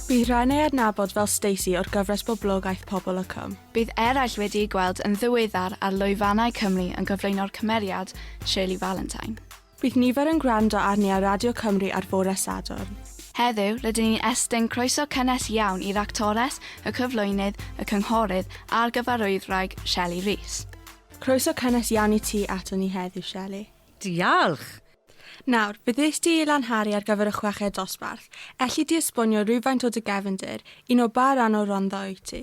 Bydd rhai'n ei adnabod fel Stacey o'r gyfres boblogaeth Pobol y Cwm. Bydd eraill wedi'i gweld yn ddiweddar ar lwyfannau Cymru yn cyflwyno'r cymeriad Shirley Valentine. Bydd nifer yn gwrando arni ar Radio Cymru ar fore Sadwrn. Heddiw, rydyn ni'n estyn croeso cynnes iawn i'r actores, y cyflwynydd, y cynghorydd a'r gyfarwyddwraig Shelley Rees. Croeso cynnes iawn i ti aton ni heddiw, Shelley. Diolch! Nawr, beth wnest ti ei lanharu ar gyfer y chweched dosbarth? Elli di esbonio rywfaint o dy gefndir, un o ba ran o'r Rondda wyt ti?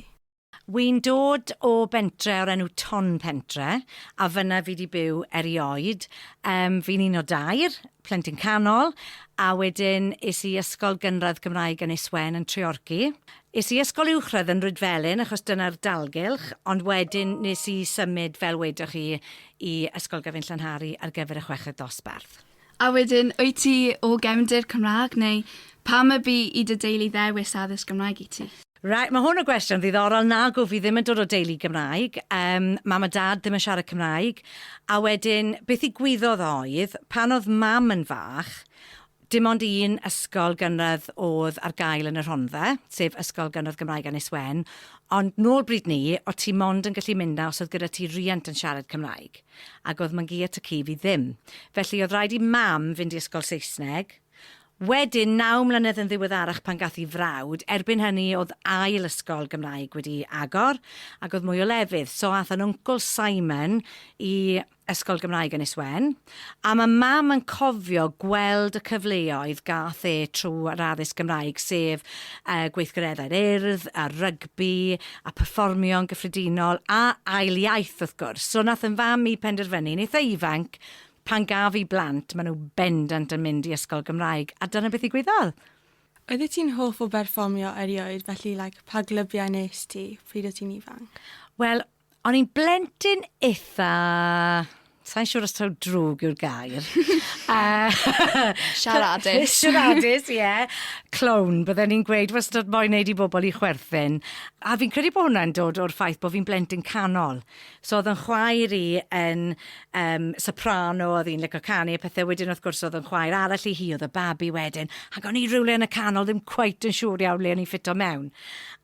Wi'n dod o bentre o'r enw Tonpentre, a fynna fi di byw erioed. Yym, fi'n un o dair, plentyn canol, a wedyn es i ysgol gynradd Gymraeg Ynys Wen yn Treorci. Es i ysgol uwchradd yn Rhydfelyn achos dyna'r dalgylch, ond wedyn nes i symud fel wedoch chi i Ysgol Gyfun Llanhari ar gyfer y chweched dosbarth. A wedyn, wyt ti o gefndir Cymraeg neu pam y bu i dy deulu ddewis addysg Gymraeg i ti? Reit, mae hwn yn gwestiwn ddiddorol. Nagw, fi ddim yn dod o deulu Gymraeg. Um, mam a dad ddim yn siarad Cymraeg. A wedyn, beth i gwyddodd oedd, pan oedd mam yn fach, Dim ond un ysgol gynradd oedd ar gael yn y Rhondda, sef Ysgol Gynradd Gymraeg Annis Wen, ond nôl bryd 'ny, o' ti mond yn gallu mynd 'na os oedd gyda ti riant yn siarad Cymraeg, ac oedd Mangaea Ty Cudd i ddim. Felly oedd rhaid i Mam fynd i ysgol Saesneg. Wedyn, naw mlynedd yn ddiweddarach pan gath 'i frawd, erbyn hynny oedd ail ysgol Gymraeg wedi agor, ac oedd mwy o lefydd, so ath 'yn wncwl Simon i, Ysgol Gymraeg Ynys Wen, a ma' Mam yn cofio gweld y cyfleoedd gath e trwy'r addysg Gymraeg, sef y gweithgareddau'r Urdd, a rygbi, a pherfformio'n gyffredinol, a ail iaith wrth gwrs. So nath 'yn fam i penderfynu, yn eitha ifanc, pan gaf fi blant, ma' nhw bendant yn mynd i ysgol Gymraeg, a dyna beth ddigwyddodd. Oeddet ti'n hoff o berfformio erioed, felly like pa glybiau 'nes ti pryd o' ti'n ifanc? Wel, O'n i'n blentyn eitha... Sa'n siŵr os taw drwg yw'r gair. Siaradus. Siaradus, ie. Yeah. Clown, bydden ni'n gweud wastad moyn neud i bobl i chwerthin. A fi'n credu bod hwnna'n dod o'r ffaith bod fi'n blentyn canol. So oedd yn chwaer i yn um, soprano, oedd hi'n lyco canu a pethau. Wedyn wrth gwrs oedd yn chwaer arall i hi, oedd y babi wedyn. Ac o'n i rhywle yn y canol, ddim cweit yn siŵr iawn le o'n i'n ffito mewn.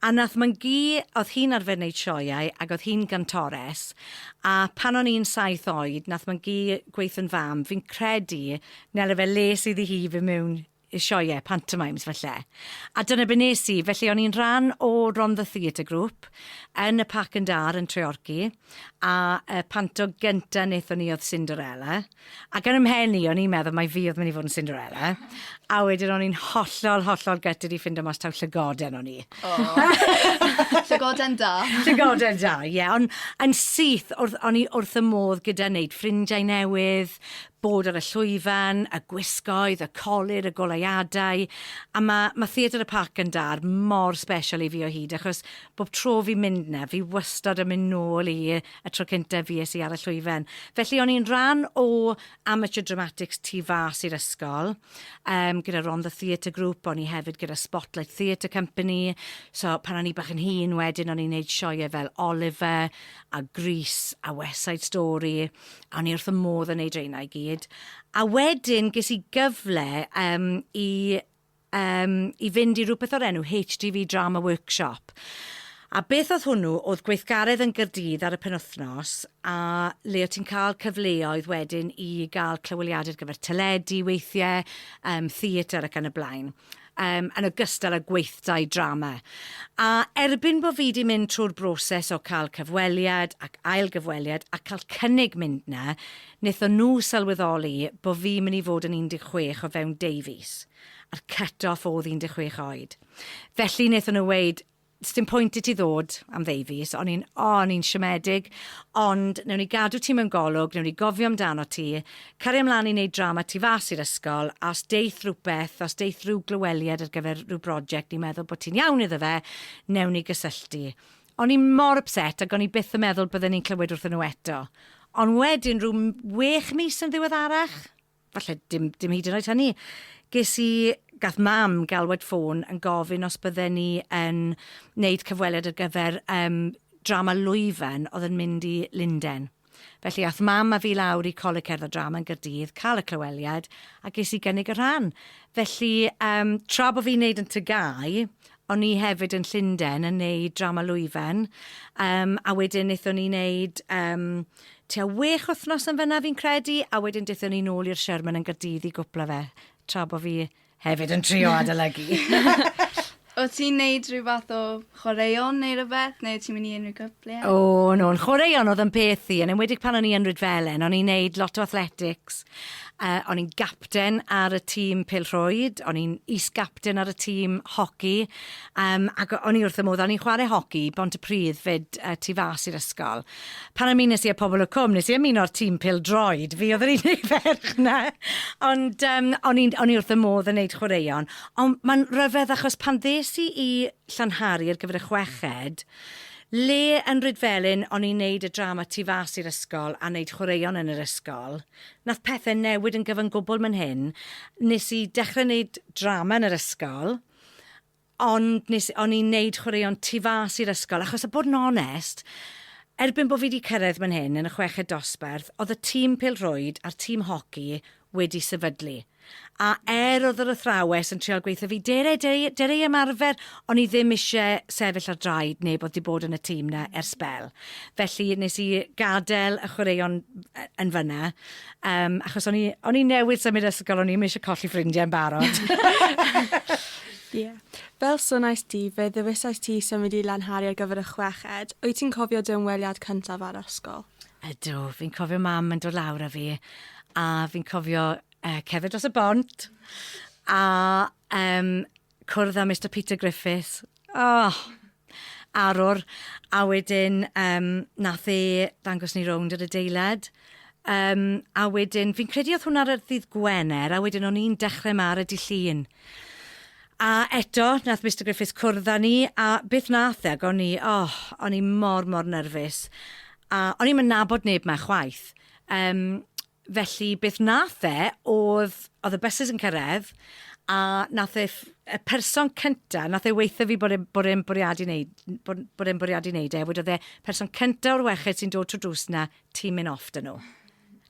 A nath mam gu, odd hi'n arfer neud sioeau ag odd hi'n gantores, a pan o'n i'n saith oed nath mam gu gweutho'n fam, fi'n credu Nel efe les iddi hi fyn mewn i sioeau, pantomimes falle. A dyna be nes i, felly o'n i'n rhan o Rondda Theatre Group yn y Parc yn Dar yn Treorci, a y panto gynta nethon ni odd Cinderella. Ac yn 'y mhen i, o'n i'n meddwl mai fi oedd mynd i fod yn Cinderella, a wedyn o'n i'n hollol, hollol gutted i ffindo mas taw llygoden o'n i. Llygoden da. Llygoden da, ie. Ond yn syth, wrth, o'n i wrth y modd gyda wneud ffrindiau newydd, bod ar y llwyfan, y gwisgoedd, y colur, y goleuadau, a mae, mae Theatr y Parc yn Dar mor special i fi o hyd, achos bob tro fi'n mynd na, fi wastad yn mynd nôl i y tro cyntaf fues i ar y llwyfan. Felly o'n i'n rhan o Amateur Dramatics tu fas i'r ysgol, um, gyda Ron the Theatre Group, o'n i hefyd gyda Spotlight Theatre Company, so pan o'n i bach yn hun wedyn o'n i'n neud sioe fel Oliver a Grease a West Side Story, a o'n i wrth y modd yn neud reina i gyd. A wedyn ges i gyfle um, i yym i fynd i rywbeth o'r enw HTV Drama Workshop. A beth oedd hwnnw oedd gweithgaredd yn Gaerdydd ar y penwythnos a le o' ti'n cael cyfleoedd wedyn i gael clyweliadau ar gyfer teledu weithiau, yym theatr ac yn y blaen. Yym yn ogystal â gweithdai drama. A erbyn bo' fi 'di mynd trwy'r broses o cael cyfweliad ac ail gyfweliad a cael cynnig mynd 'na Wnaethon nhw sylweddoli bo fi'n mynd i fod yn 16 o fewn deu fis, a'r cut off o'dd 16 oed. Felly wnaethon nhw weud, sdim pwynt i ti ddod am ddeu fis, o'n i'n, o, o'n i'n siomedig, ond newn ni gadw ti mewn golwg, newn ni gofio amdanot ti, cario mlan i neud drama tu fas i'r ysgol, a os deith rwbeth, os deith ryw glyweliad ar gyfer ryw broject ni'n meddwl bo ti'n iawn iddo fe, newn ni gysylltu. O'n i mor ypset ac o'n i byth yn meddwl bydden i'n clywed wrthyn nhw eto. Ond wedyn, rhyw wech mis yn ddiweddarach, falle dim dim hyd yn oed hynny, ges i... gath Mam galwad ffôn yn gofyn os bydden ni yn wneud cyfweliad ar gyfer yym drama Lwyfan oedd yn mynd i Lundain. Felly ath Mam a fi lawr i Coleg Cerdd a Drama yn Gaerdydd, cael y clyweliad, a ges i gynnig y rhan. Felly yym tra bo' fi'n neud yn Tŷ Gau, o'n i hefyd yn Llunden yn neud Drama Lwyfan, yym a wedyn nethon ni neud yym tua wech wthnos yn fynna fi'n credu, a wedyn dethon ni nôl i'r Sherman yn Gaerdydd i gwpla fe, tra bo' fi Hefyd yn trio adolygu. Wyt ti'n neud rhyw fath o chwaraeon neu rhywbeth, neu wyt ti'n mynd i unrhyw cyfle? O, oh, no, yn chwaraeon oedd yn peth i, yn enwedig pan o'n i yn Rydfelen, o'n i'n neud lot o athletics, uh, o'n i'n gapten ar y tîm pilrhwyd, o'n i'n is-gapten ar y tîm hoci, um, ac o'n i wrth y modd, o'n i'n chwarae hoci, bont y pridd fyd uh, tu fas i'r ysgol. Pan o'n i'n nes i'r pobl y cwm, nes i ymuno'r tîm pil droed, fi oedd yr unig ferch na, ond um, o'n i'n o'n i wrth y modd yn neud chwaraeon. Ond mae'n rhyfedd achos pan ddes i i Llanhari ar gyfer y chweched, le yn Rydfelyn o'n i'n neud y drama tu fas i'r ysgol a neud chwaraeon yn yr ysgol, nath pethau newid yn gyfan gwbl man hyn. Nes i dechrau neud drama yn yr ysgol, ond nes... o'n i'n neud chwaraeon tu fas i'r ysgol, achos a bod yn onest, erbyn bod fi wedi cyrraedd man hyn yn y chweched dosbarth, oedd y tîm pêl-rwyd a'r tîm hoci wedi sefydlu. A er oedd yr athrawes yn trial gweithio fi, Dere, dere, dere i ymarfer, o'n i ddim isie sefyll ar draed neb oedd wedi bod yn y tîm 'na ers sbel. Felly nes i gadel y chwaraeon yn fan'na. Um, achos o'n i, o'n i newydd symud ysgol, o'n i ddim eisiau colli ffrindiau'n barod. yeah. Fel sonais di, fe ddewisais ti symud i Lanhari ar gyfer y chweched. Wyt ti'n cofio dy ymweliad cyntaf ar ysgol? Ydw, fi'n cofio mam yn dod lawr â fi, a fi'n cofio uh, cefyd dros y bont, a um, cwrdd â Mister Peter Griffiths, oh! arwr, a wedyn yym nath e dangos ni rownd yr adeilad, yym a wedyn fi'n credu oedd hwnna ar y ddydd Gwener a wedyn o'n i'n dechrau 'ma ar y Dy' Llun. A eto nath Mister Griffiths cwrdd â ni a beth nath e ac o'n i oh o'n i mor mor nyrfys a o'n i'm yn nabod neb 'ma chwaith yym Felly beth nath fe odd, odd y byses yn cyrredd, a nath e ff- y person cynta, nath e weutho fi bod e bod e'n bwriadu neud n- bod n- bod e'n bwriadu neud e, wedodd e, person cynta o'r weched sy'n dod trw'r drws 'na, ti'n myn' off 'da nhw.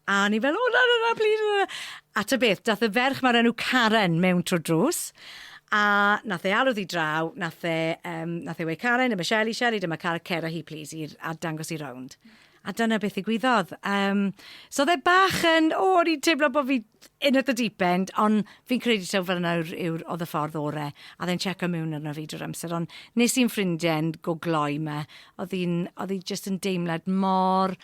A o'n i fel, o na na na plîs na na. A ta beth, dath y ferch 'ma o'r enw Karen mewn trw'r drws, a nath e alw ddi draw, nath e yym nath e weu' Karen, dyma Sheli, Sheli dyma car, cer â hi plîs i'r a dangos hi rownd. A dyna beth ddigwyddodd. Um, so oedd e bach yn, o, o'n i'n teimlo bod fi in at the deep end, ond fi'n credu taw fel yna yw'r, yw, oedd y ffordd orau, a ddyn check o mewn arno fi drwy'r amser, ond nes i'n ffrindiau'n go gloi yma, oedd hi'n, oedd hi just yn deimlad mor,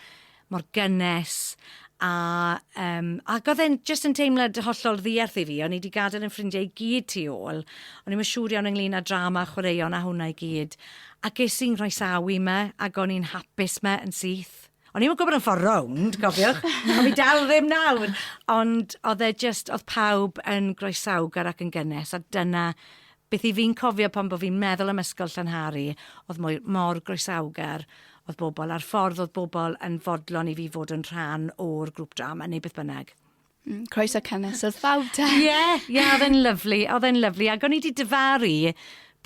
mor gynnes, a, um, ac oedd e'n just yn teimlad hollol ddiarth i fi, o'n i wedi gadael yn ffrindiau i gyd tu ôl, o'n i'n siŵr iawn ynglyn â drama, chwaraeon a hwnna i gyd, A ges i'n nghroesawu 'ma, ac o'n i'n hapus 'ma yn syth. O'n i'm yn gwybod am ffordd rownd, cofiwch, a fi dal ddim nawr! Ond oedd e jyst, oedd pawb yn groesawgar ac yn gynnes, a dyna beth 'y fi'n cofio pan bo' fi'n meddwl am ysgol Llanhari, oedd mwy, mor groesawgar oedd bobl, a'r ffordd oedd bobl yn fodlon i fi fod yn rhan o'r grŵp drama, neu beth bynnag. Mm, croeso cynnes oedd bawb da. Ie, yeah, ie, yeah, oedd e'n lyflu, oedd e'n lyflu. Ac o'n i wedi dyfaru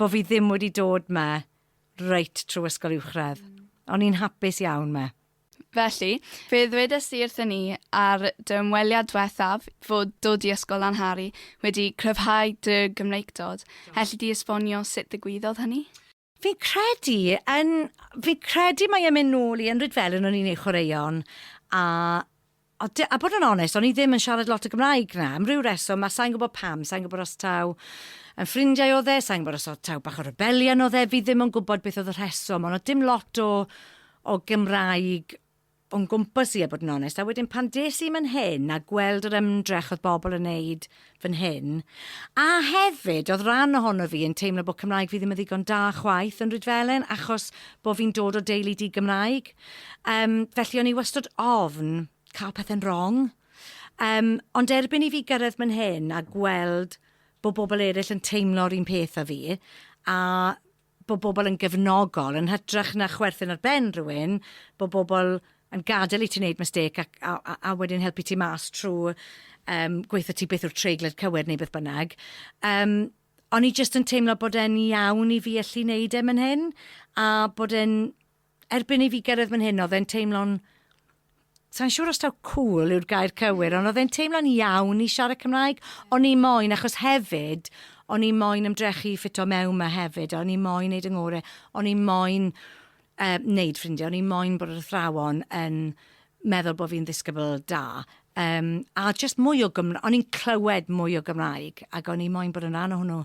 bod fi ddim wedi dod me reit trwy ysgol uwchradd. O'n i'n hapus iawn me. Felly, fe ddwedes i wrthyn ni ar dy ymweliad diwethaf fod dod i ysgol Lanhari wedi cryfhau dy Gymreictod. Helli di esbonio sut ddigwyddodd hynny? Fi'n credu, yn, fi'n credu mae e'n mynd nôl i yn fel yn o'n i'n ei chwaraeon, a, a, a bod yn onest, o'n i ddim yn siarad lot o Gymraeg na, am ryw reswm, a sa'n gwybod pam, sa'n gwybod os taw yn ffrindiau o dde, sa'n gwybod os oedd taw bach o rebelion o dde, fi ddim yn gwybod beth oedd y rheswm, ond oedd dim lot o, o Gymraeg o'n gwmpas i a bod yn onest a wedyn pan des i man hyn a gweld yr ymdrech oedd bobl yn neud fan hyn a hefyd oedd rhan ohono fi yn teimlo bod Cymraeg fi ddim yn ddigon da chwaith yn Rhydfelen achos bod fi'n dod o deulu di-Gymraeg um, felly o'n i wastod ofn cael pethau'n wrong um, ond erbyn i fi gyrraedd man hyn a gweld bod bobl eraill yn teimlo'r un peth a fi a bod bobl yn gefnogol, yn hytrach na chwerthin ar ben rhywun, bod bobl yn gadael i ti wneud mistake ac, a, a, a wedyn helpu ti mas trwy um, gweithio ti beth yw'r treiglad cywir neu beth bynnag. Um, o'n i jyst yn teimlo bod e'n iawn i fi allu wneud e man hyn, a bod e'n erbyn i fi gyrraedd fan hyn, oedd e'n teimlo'n... Sa'n siŵr os taw cool yw'r gair cywir, ond oedd e'n teimlo'n iawn i siarad Cymraeg. O'n i moyn, achos hefyd, o'n i moyn ymdrechu i ffito mewn ma hefyd, o'n i moyn neud yng ngore, o'n i moyn uh, neud ffrindiau, o'n i moyn bod yr athrawon yn meddwl bod fi'n ddisgybl da. Um, a just mwy o Gymraeg, o'n i'n clywed mwy o Gymraeg, ac o'n i moyn bod yn rhan o hwnnw.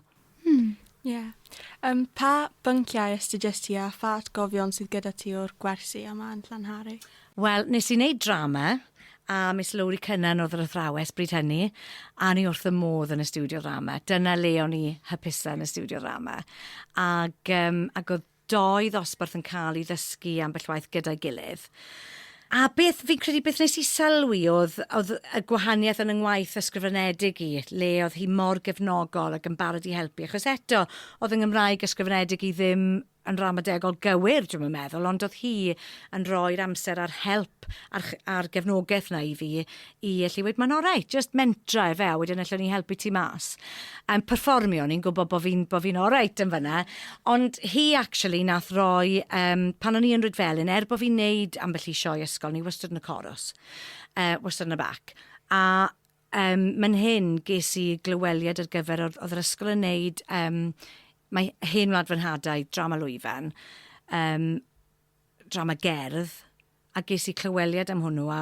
Hmm, ie. Yeah. Um, pa bynciau astudiaeth ti a pha atgofion sydd gyda ti o'r gwersi yma yn Llanhari? Wel, nes i wneud drama, a Miss Lowry Cynnan oedd yr athrawes bryd hynny, a ni wrth y modd yn y studio drama. Dyna le o'n i hypusa yn y studio drama. Ac, um, ac oedd Dau ddosbarth yn cael i ddysgu ambell waith gyda'i gilydd. A beth fi'n credu beth nes i sylwi oedd oedd y gwahaniaeth yn 'y ngwaith ysgrifenedig i, le oedd hi mor gefnogol ac yn barod i helpu, achos eto, oedd 'y Nghymraeg ysgrifenedig i ddim yn ramadegol gywir, dwi'm yn meddwl, ond oedd hi yn rhoi'r amser a'r help a'r ch- a'r gefnogaeth 'na i fi i allu weud mae'n orau, just mentra efe a wedyn allwn ni helpu ti mas. Yn perfformio, ni'n gwybod bod fi'n bo fi orau yn fyna. Ond hi actually nath roi, um, pan o'n i yn Rydfelyn, er bod fi'n neud ambell i sioe ysgol, ni wastad yn y coros, uh, wastad yn y bac. A um, mae'n hyn ges i glyweliad ar gyfer, oedd yr ysgol yn neud, um, mae hen wlad fy nhadau, drama lwyfan, um, drama gerdd, a ges i clyweliad am hwnnw a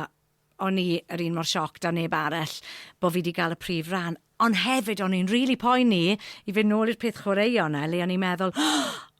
O'n i yr un mor shocked â neb arall bo' fi 'di ga'l y prif ran, ond hefyd o'n i'n rili poeni i fynd nôl i'r peth chwaraeon 'na le o'n i'n meddwl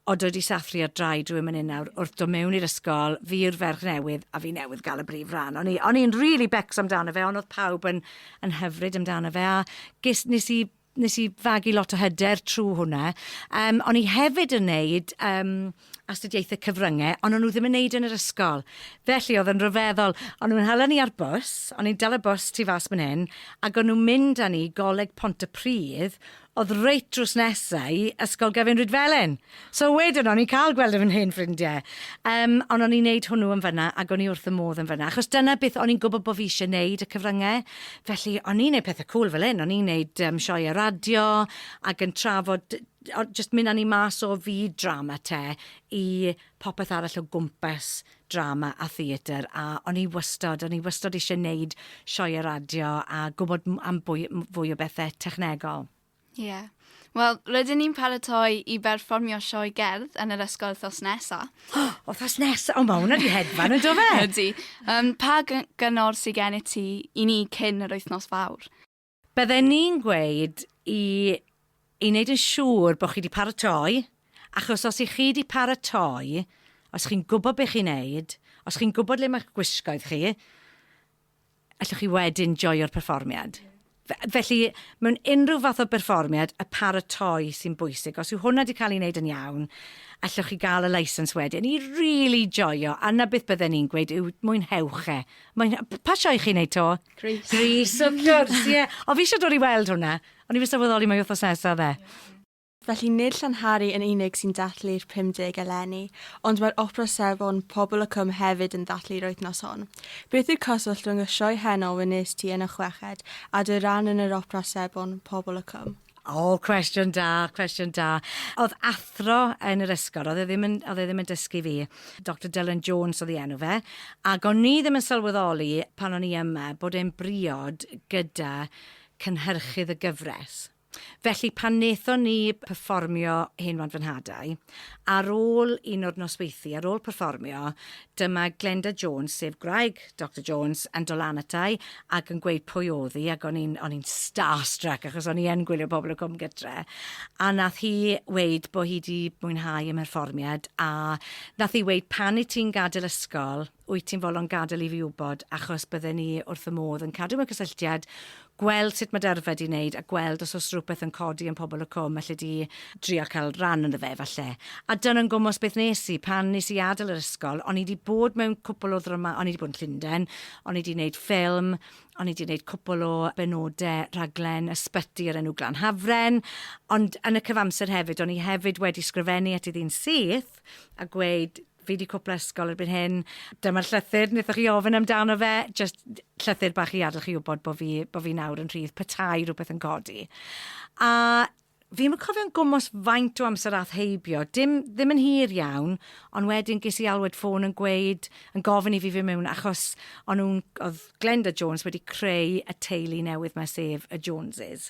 o dwi 'di sathru ar draed rywun myn 'yn nawr wrth do' mewn i'r ysgol, fi yw'r ferch newydd a fi newydd ga'l y brif ran. O'n i o'n i'n rili becso amdano fe on' odd pawb yn yn hyfryd amdano fe a ges nes i nes i fagu lot o hyder trwy hwnna. Um, o'n i hefyd yn neud um, astudiaethau cyfryngau, ond o'n nhw ddim yn neud yn yr ysgol. Felly oedd yn rhyfeddol, o'n nhw'n hala ni ar bus, o'n i'n dal y bus tu fas mynd hyn, ac o'n nhw'n mynd â ni goleg Pont y Pridd, oedd reit drws nesau i Ysgol Gefin Rydfelen. So wedyn o'n i'n cael gweld fy hen ffrindiau, yym, ond o'n i'n neud hwnnw yn fan'na ac o'n i wrth fy modd yn fan'na, achos dyna beth o'n i'n gwybod bod fi eisiau neud, y cyfryngau. Felly, o'n i'n neud pethau cŵl fel hyn, o'n i'n neud yym sioeau radio ac yn trafod d- d- o- jyst mynd â ni mas o fyd drama te i popeth arall o gwmpas drama a theatr, a o'n i wastod, o'n i wastod eisiau neud sioeau radio a gwybod m- am bwy- m- fwy o bethe technegol. Ie. Wel, rydyn ni'n paratoi i berfformio sioe gerdd yn yr ysgol wythnos nesa. Wythnos nesa? O, mae hwnna di hedfan, ynddo fe? Ydy. Um, pa gyngor sy'n gen i ti i ni cyn yr wythnos fawr? Bydden ni'n gweud i, i wneud yn siŵr bod chi wedi paratoi, achos os i chi wedi paratoi, os chi'n gwybod beth chi'n neud, os chi'n gwybod le mae'ch gwisgoedd chi, allwch chi wedyn joio'r perfformiad. Felly, mewn unrhyw fath o berfformiad, y paratoi sy'n bwysig. Os yw hwnna wedi cael ei wneud yn iawn, allwch chi gael y licence wedyn i really joio. A na beth bydden ni'n gweud yw mwynhewch e. Mwyn... Pa sioe chi'n neud to? Grease. Grease, of course, ie. Yeah. O, fi eisiau dod i weld hwnna. O'n i wedi sylweddoli mae wythnos nesaf fe. Yeah. Felly nid Llanhari yn unig sy'n dathlu'r 50 eleni, ond mae'r Opera Safon Pobl y Cwm hefyd yn dathlu'r wythnos hon. Beth yw'r cyswllt rhwng y sioe heno wnes ti yn y chweched a dy ran yn yr Opera Sebon Pobl y Cwm? O, cwestiwn da, cwestiwn da. Oedd athro yn yr ysgol, oedd e ddim yn, oedd e ddim yn dysgu fi. Doctor Dylan Jones oedd ei enw fe. Ac o'n ni ddim yn sylweddoli pan o'n i yma bod e'n briod gyda cynhyrchydd y gyfres. Felly pan wnaethon ni perfformio Hen Wlad Fy Nhadau, ar ôl un o'r nosweithi, ar ôl perfformio, dyma Glenda Jones, sef gwraig Doctor Jones, yn dod lan ata i ac yn gweud pwy oedd hi, ac o'n i'n, o'n i'n starstruck, achos o'n i yn gwylio Pobol y Cwm Gytre, a wnaeth hi weud bod hi 'di mwynhau y mherfformiad, a wnaeth hi weud, pan i ti'n gadael ysgol, wyt ti'n fodlon gadael i fi wybod, achos bydden ni wrth fy modd yn cadw mewn cysylltiad, gweld sut mae dy yrfa di'n neud, a gweld os oes rhywbeth yn codi yn Pobol y Cwm alle di drio cael rhan ynddo fe, falle. A dyna'n gwmws beth nes i, pan nes i adael yr ysgol, o'n i di bod mewn cwpl o ddramâu, o'n i di bod yn Llundain, o'n i di neud ffilm, o'n i di neud cwpl o benode rhaglen ysbyty o'r enw Glan Hafren, ond yn y cyfamser hefyd, o'n i hefyd wedi sgrifennu at i ddyn syth, a gweud, Fi 'di cwpla ysgol erbyn hyn. Dyma'r llythyr wnaethoch chi ofyn amdano fe. Jyst llythyr bach i adael chi wybod bod fi, bod fi nawr yn rhydd petai rhywbeth yn codi. A fi ddim yn cofio'n gwmws faint o amser ath heibio. Dim, ddim yn hir iawn, ond wedyn ges i alwad ffôn yn gweud, yn gofyn i fi fy mewn achos o'n nhw'n, oedd Glenda Jones wedi creu y teulu newydd mae sef y Joneses.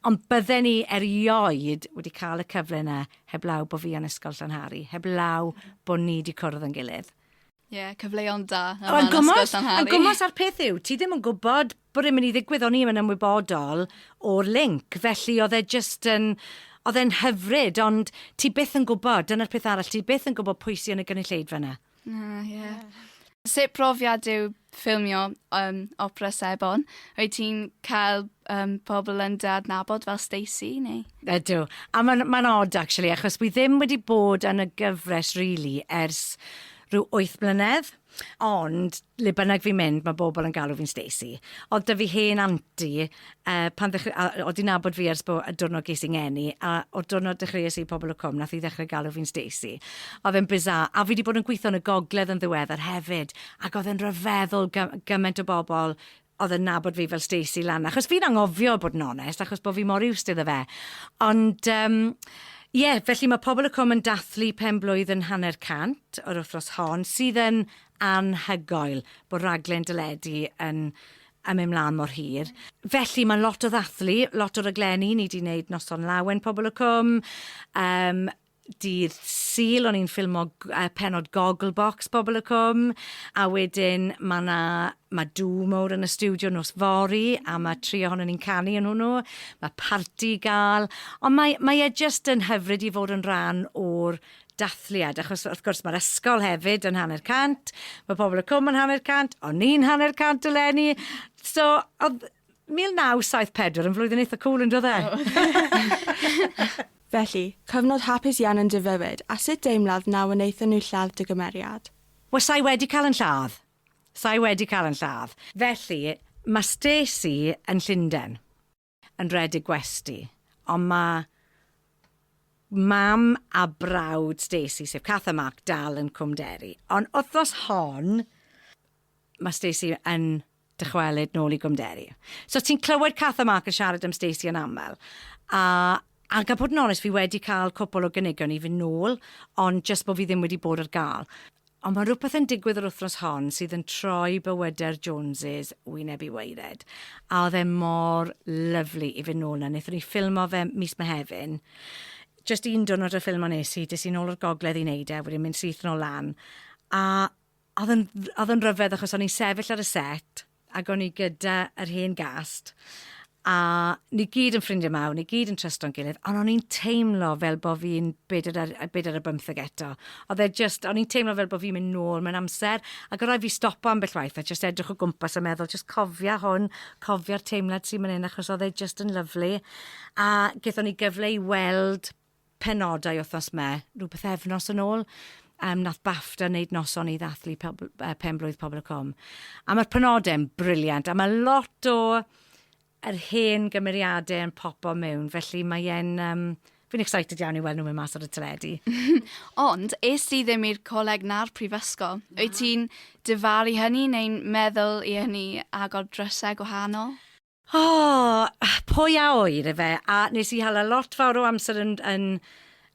Ond bydden ni erioed wedi cael y cyfle yna heblaw bod fi yn ysgol Llanhari, heblaw bod ni wedi cwrdd yn gilydd. Ie, yeah, cyfleon da. O, a gymos, a gymos ar peth yw, ti ddim yn gwybod bod e'n mynd i ddigwydd, o'n i'n ymwybodol o'r link, felly oedd e just yn, oedd e'n hyfryd, ond ti byth yn gwybod, dyna'r peth arall, ti byth yn gwybod pwy sy'n y gynulleidfa yna. Na ie. Ie. Sut profiad yw ffilmio yym Opera Sebon? Wyt ti'n cael yym pobol yn dy adnabod fel Stacey neu? Ydw. A ma'n ma'n od actually achos wi ddim wedi bod yn y gyfres rili ers rhyw wyth mlynedd ond le bynnag fi'n mynd ma' bobol yn galw fi'n Stacey. Odd 'dy fi hen aunty A pan ddechreu- a odd 'i'n nabod fi ers bo- y diwrnod ges i ngeni, a o'r diwrnod dechreues i Pobol y Cwm nath 'i ddechre galw fi'n Stacey. A odd e'n bizarre. A fi 'di bod yn gwitho yn y gogledd yn ddiweddar hefyd, ac odd e'n ryfeddol gy- gyment o bobol odd yn nabod fi fel Stacey lan 'na. Achos fi'n anghofio bod yn onest, achos bo' fi mor used iddo fe. Ond yym ie, felly ma' Pobol y Cwm yn dathlu pen blwydd yn hanner cant yr wthnos hon, sydd yn anhygoel bo' raglen deledu yn yn mynd mlan mor hir. Felly mae lot o ddathlu, lot o raglenni, ni di wneud Noson Lawen Pobl y Cwm, um, dydd Sul o'n i'n ffilmo uh, penod Gogglebox Pobl y Cwm, a wedyn mae yna mae dŵ mowr yn y studio nos fori, a mae tri ohono ni'n canu yn hwnnw, mae parti gael, ond mae, mae e jyst yn hyfryd i fod yn rhan o'r dathliad, achos wrth gwrs mae'r ysgol hefyd yn hanner cant, mae pobl y cwm yn hanner cant, o'n ni'n hanner cant y lenni. So, oedd 1974 yn flwyddyn eitha cool yn dod e? Felly, cyfnod hapus iawn yn dy fywyd, a sut deimlad na wnaethon nhw lladd dy gymeriad? Wel, sa i wedi cael yn lladd. Sa i wedi cael yn lladd. Felly, mae Stacey yn Llundain. yn rhedeg gwesty, ond mae mam a brawd Stacey, sef Cath a Mark, dal yn Cwm Deri. Ond wythnos hon, mae Stacey yn dychwelyd nôl i Gwmderi. So ti'n clywed Cath a Mark yn siarad am Stacey yn aml. A Ac a bod yn onest fi wedi cael cwpl o gynigion i fynd nôl ond jyst bod fi ddim wedi bod ar gael. Ond mae rhywbeth yn digwydd yr wythnos hon sydd yn troi bywydau'r Joneses wyneb i waered. A oedd e mor lyfli i fynd nôl na. Nethon ni ffilmo fe mis Mehefin. Jyst un diwrnod y ffilmo nes i, des i nôl o'r gogledd i wneud e, wedyn mynd syth nôl lan. A oedd yn oedd yn ryfedd achos o'n i'n sefyll ar y set ac o'n i gyda yr hen gast, a ni gyd yn ffrindiau mawr, ni gyd yn trystio'n gilydd, ond o'n i'n teimlo fel bod fi'n bedair ar, bedair ar bymtheg eto. Oedd e just, o'n i'n teimlo fel bod fi'n mynd nôl mewn amser, ac o rai fi stopo ambell waith a just edrych o gwmpas a meddwl, just cofia hwn, cofia'r teimlad sy'n mynd hyn, achos oedd e just yn lyflu. A gethon ni gyfle i weld penodau wythnos me, rhyw pythefnos yn ôl, um, nath BAFTA wneud noson i ddathlu pob, uh, penblwydd Pobl y Cwm. A mae'r penodau'n briliant, a mae lot o yr hen gymeriadau yn popo mewn, felly mae'n... Um, Fi'n excited iawn i weld nhw'n mynd mas ar y teledu. Ond, es ti ddim i'r coleg na'r prifysgol. Na. Wyt ti'n dyfalu hynny neu'n meddwl i hynny agor drysau gwahanol? O! Pwy a ŵyr ife, a nes i hala lot fawr o amser yn yn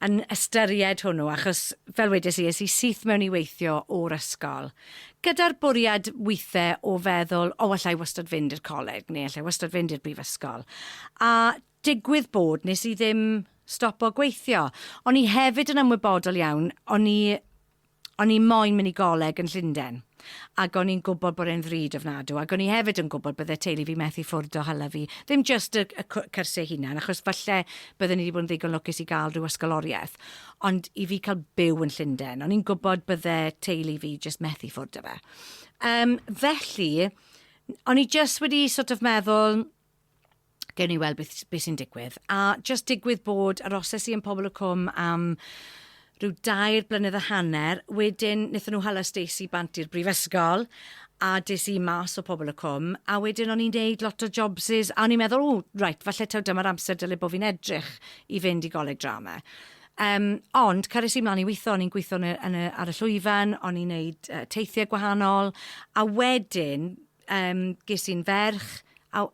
yn ystyried hwnnw achos fel wedes i es i syth mewn i weithio o'r ysgol gyda'r bwriad withe o feddwl o allai wastad fynd i'r coleg neu allai wastad fynd i'r brifysgol a digwydd bod nes i ddim stopo gweithio. O'n i hefyd yn ymwybodol iawn o'n i O'n i moyn mynd i goleg yn Llunden, ac o'n i'n gwybod bod e'n ddrud ofnadw, ac o'n i hefyd yn gwybod bydde teulu fi methu ffwrdd o hala fi, ddim jyst y y cw- cyrsiau eu hunain, achos falle bydden i 'di bod yn ddigon lwcus i gael rhyw ysgoloriaeth, ond i fi cael byw yn Llunden, o'n i'n gwybod bydde teulu fi jyst methu ffwrdd o fe. Yym, felly, o'n i jyst wedi sort of meddwl, gewn ni weld beth, beth sy'n digwydd. A just digwydd bod yr oses i yn Pobl y Cwm am rhyw dair blynedd a hanner, wedyn wnaethon nhw hala Stacey bant i'r brifysgol, a des i mas o Pobl y Cwm, a wedyn o'n i'n neud lot o jobsys, a o'n i'n meddwl, o, right, falle taw dyma'r amser dylai bod fi'n edrych i fynd i goleg drama. Um, ond, cyrraes i mlaen i weithio, o'n i'n gweithio yn y, yn y, ar y llwyfan, o'n i'n neud uh, teithiau gwahanol, a wedyn, Yym, ges i'n ferch, a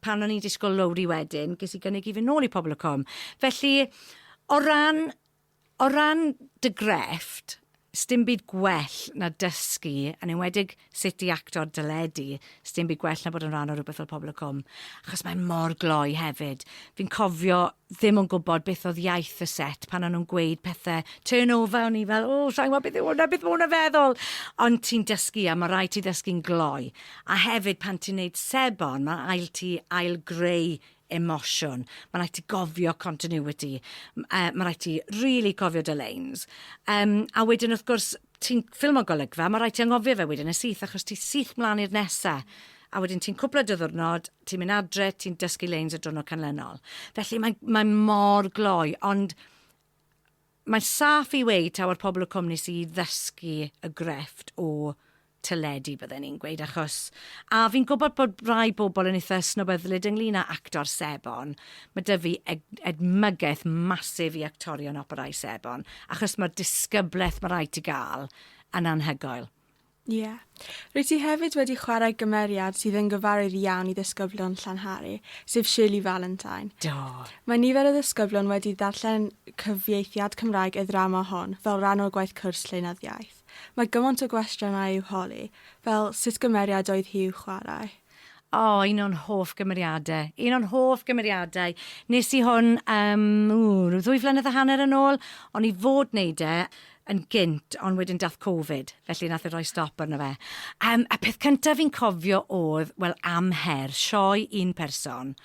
pan o'n i'n disgwyl Lowri wedyn, ges i gynnig i fy nôl i Pobl y Cwm. Felly, o ran, o ran dy grefft, sdim byd gwell na dysgu, yn enwedig sut i acto ar deledu, sdim byd gwell na bod yn rhan o rhywbeth fel Pobl y Cwm. Achos mae mor gloi hefyd. Fi'n cofio ddim yn gwybod beth oedd iaith y set pan o'n nhw'n gweud pethau turn over, o'n i fel, o, sa'n gwybod beth yw hwnna, beth mae hwnna'n feddwl. Ond ti'n dysgu a mae rhaid ti ddysgu'n gloi. A hefyd pan ti'n neud sebon, mae'n ail ti ail greu emosiwn. Mae'n rhaid ti gofio continuity. Mae rhaid ti really cofio dy leins. Um, a wedyn wrth gwrs, ti'n ffilmo golygfa, mae rhaid ti anghofio fe wedyn yn syth, achos ti syth mlaen i'r nesa, a wedyn ti'n cwpla dy ddwrnod, ti'n mynd adre, ti'n dysgu leins y drwrnod canlynol. Felly mae'n mae mor gloi, ond mae'n saff i weid taw ar pobl y cwmni sydd i ddysgu y grefft o teledu, bydden i'n gweud, achos a fi'n gwybod bod rai bobl yn eitha' snobyddlyd ynglyn â actor sebon, Mae 'da fi ed- edmygaeth massive i actorion opera i sebon, achos mae'r disgybleth mae rhaid ti gael yn anhygoel. Ie. Rwyt ti hefyd wedi chwarae gymeriad sydd yn gyfarwydd iawn i ddisgyblion Llanhari, sef Shirley Valentine. Do. Mae nifer o ddisgyblion wedi ddarllen cyfieithiad Cymraeg y ddrama hon fel rhan o'r gwaith cwrs lleunyddiaeth. Mae gymaint o gwestiynau i'w holi, fel sut gymeriad oedd hi i'w chwarae? O, un o'n hoff gymeriade. Un o'n hoff gymeriadau. Nes i hwn, um, ww, rhyw ddwy flynedd a hanner yn ôl. O'n i fod wneud e yn gynt, ond wedyn dath Covid, felly nath e roi stop arno fe. Um, a peth cyntaf fi'n cofio oedd, wel, am her, sioe un person.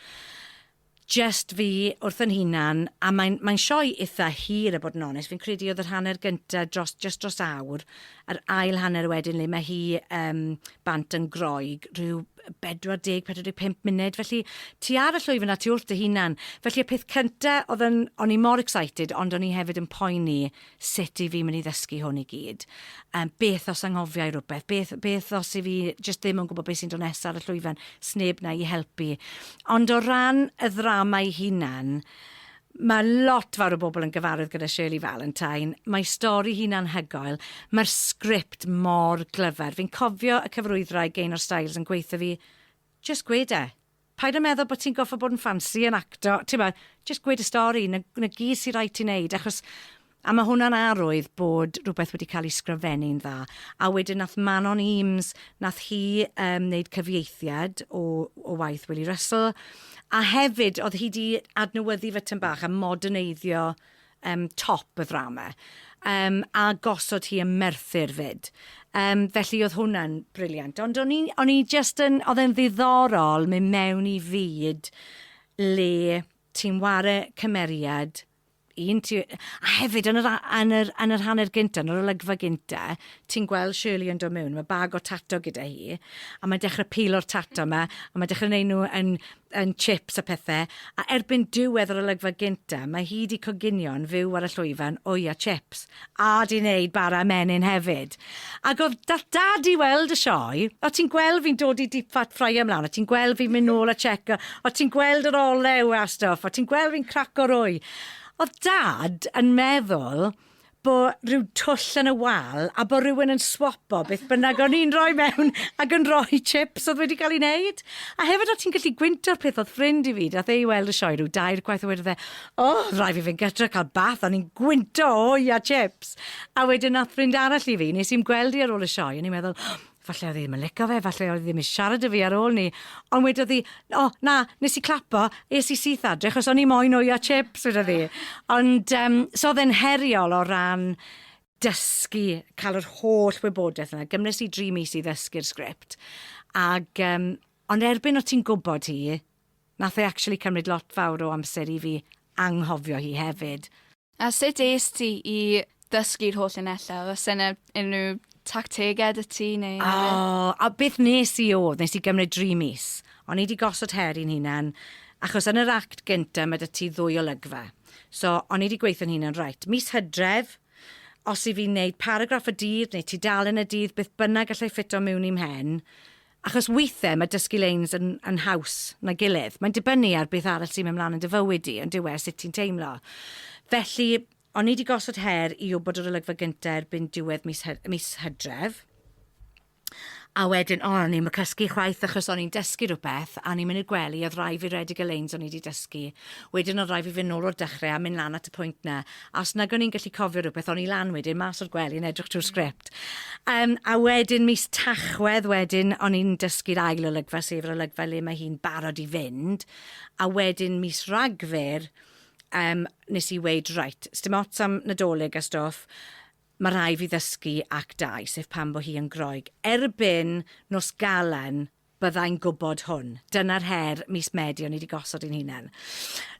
Jest fi wrth yn hunan, a mae'n mae'n sioe itha hir a bod yn onest, fi'n credu oedd yr hanner gynta dros jest dros awr, yr ail hanner wedyn le mae hi yym bant yn Groeg rhyw 40, 45 munud, felly ti ar y llwyfan a ti wrth dy hunan. Felly y peth cynta oedd yn o'n i mor excited ond o'n i hefyd yn poeni sut i fi mynd i ddysgu hwn i gyd? Um, beth os anghofiau rhywbeth? Beth, beth os i fi jyst ddim yn gwybod beth sy'n dod nesaf ar y llwyfan? Sneb na i helpu. Ond o ran y ddrama ei hunan, mae lot fawr o bobl yn gyfarwydd gyda Shirley Valentine. Mae stori hi'n anhygoel. Mae'r sgript mor glyfar. Fi'n cofio y cyfarwyddwraig Gaynor Styles yn gweithio fi, just gwede. Paid a meddwl bod ti'n gorfod bod yn ffansi, yn acto, timod, jyst gweud y stori, 'na, 'na gyd sy raid ti wneud, achos... A mae hwnna'n arwydd bod rhywbeth wedi cael ei sgrifennu'n dda. A wedyn nath Manon Eames, nath hi um, wneud cyfieithiad o, o waith Willie Russell, a hefyd oedd hi di adnewyddu fy tyn bach a moderneiddio Yym top y ddrama. Yym a gosod hi yn Merthyr 'fyd. Yym felly oedd hwnna'n brilliant. Ond o'n i o'n i jyst yn oedd e'n ddiddorol mynd mewn i fyd le ti'n ware cymeriad un ti a hefyd yn yr a- yn yr yn yr hanner gynta yn yr olygfa gynta ti'n gweld Shirley yn dod mewn ma' bag o tato gyda hi a mae'n dechre pilo'r tato 'ma a mae'n dechre neud nw yn yn chips a phethe, a erbyn diwedd yr olygfa gynta mae hi 'di coginio'n fyw ar y llwyfan wy a chips, a 'di neud bara menyn hefyd! Ac o'dd dath Dad i weld y sioe, o' ti'n gweld fi'n dod i deep fat fryer mlan, o' ti'n gweld fi'n mynd nôl a checo, o' ti'n gweld yr olew a stwff, o' ti'n gweld fi'n craco'r wy! O'dd Dad yn meddwl bo rhyw twll yn y wal a bo rhywun yn swapo beth bynnag o'n i'n rhoi mewn ac yn rhoi chips oedd wedi cael ei wneud. A hefyd o ti'n gallu gwynto'r peth oedd ffrind i fi, dath e i weld y sioe rhyw dair gwaith a wedodd e, o, oh, rhaid fi fynd gytra cael bath, o'n i'n gwynto o ia chips. A wedyn nath ffrind arall i fi, nes i'n gweld i ar ôl y sioe, o'n i'n meddwl, Falle oedd hi ddim yn licio fe, falle oedd hi ddim yn siarad y fi ar ôl ni, ond wedodd hi, o, oh, na, nes i clapo, es i syth adre, chos o'n i moyn o'i a chips, wedodd hi. Ond, um, so oedd e'n heriol o ran dysgu, cael yr holl wybodaeth yna. Gymnes i dri mis i ddysgu'r sgript. Ag, um, ond erbyn o ti'n gwybod hi, nath e actually cymryd lot fawr o amser i fi anghofio hi hefyd. A sut es ti i ddysgu'r holl linellau? Oes yna unrhyw tactegau 'da ti neu... O, a beth nes i oedd, nes i gymryd dri mis. O'n i 'di gosod her i'n hunan, achos yn yr act gynta ma' 'da ti ddwy olygfa. So, o'n i 'di gweithio'n hunan, reit, mis Hydref, os i fi wneud paragraff y dydd neu tudalen y dydd, beth bynnag allai ffito miwn i'm mhen, Achos weithiau mae dysgu leins yn yn haws na gilydd. Mae'n dibynnu ar beth arall sy'n mynd mlaen yn dy fywyd di, yndyw e, sut ti'n teimlo. Felly, o'n i di gosod her i wybod yr olygfa gynta erbyn diwedd mis Hy- mis Hydref. A wedyn, o, o'n i'm yn cysgu chwaith achos o'n i'n dysgu rhywbeth a o'n i'n mynd i'r gwely, oedd rai fi redig y leins o'n i di dysgu. Wedyn oedd rai fi fynd nôl o'r dechrau a mynd lan at y pwynt na. os nag o'n i'n gallu cofio rhywbeth, o'n i lan wedyn, mas o'r gwely yn edrych trwy'r sgript. Um, a wedyn, mis Tachwedd wedyn, o'n i'n dysgu'r ail olygfa, sef yr olygfa le mae hi'n barod i fynd. A wedyn, mis Ragfyr, um, nes i weid, right, sdim ots am nadolig a stoff, mae rhai fi ddysgu ac dau, sef pan bo hi yn groeg. Erbyn nos galen, byddai'n gwybod hwn. Dyna'r her mis Medi o'n i 'di gosod i'n hunan.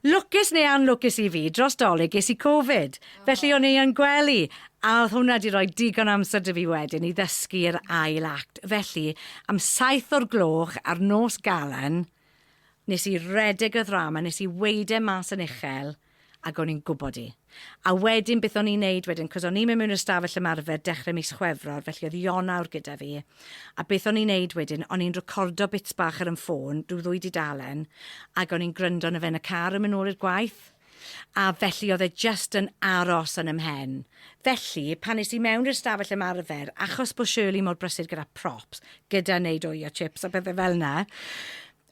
Lwcus neu anlwcus i fi, dros Dolig ges i Covid, felly o'n i yn gwely, a oedd hwnna 'di rhoi digon amser 'da fi wedyn i ddysgu yr ail act. Felly, am saith o'r gloch ar nos Galan, nes i redeg y ddrama, nes i weud e mas yn uchel, Ac o'n i'n gwybod i. A wedyn beth o'n i'n neud wedyn, cos o'n i'n mynd mewn i'r stafell ymarfer dechrau mis Chwefror, felly oedd Ionawr gyda fi, a beth o'n i'n neud wedyn, o'n i'n recordo bits bach ar 'y ffôn, rhyw ddwy dudalen, ac o'n i'n gwryndo arno fe yn y car yn mynd nôl i'r gwaith, a felly oedd e jyst yn aros yn 'y mhen. Felly, pan nes i mewn i'r stafell ymarfer, achos bod Shirley mor brysur gyda props, gyda neud oio chips a pethe fel 'na,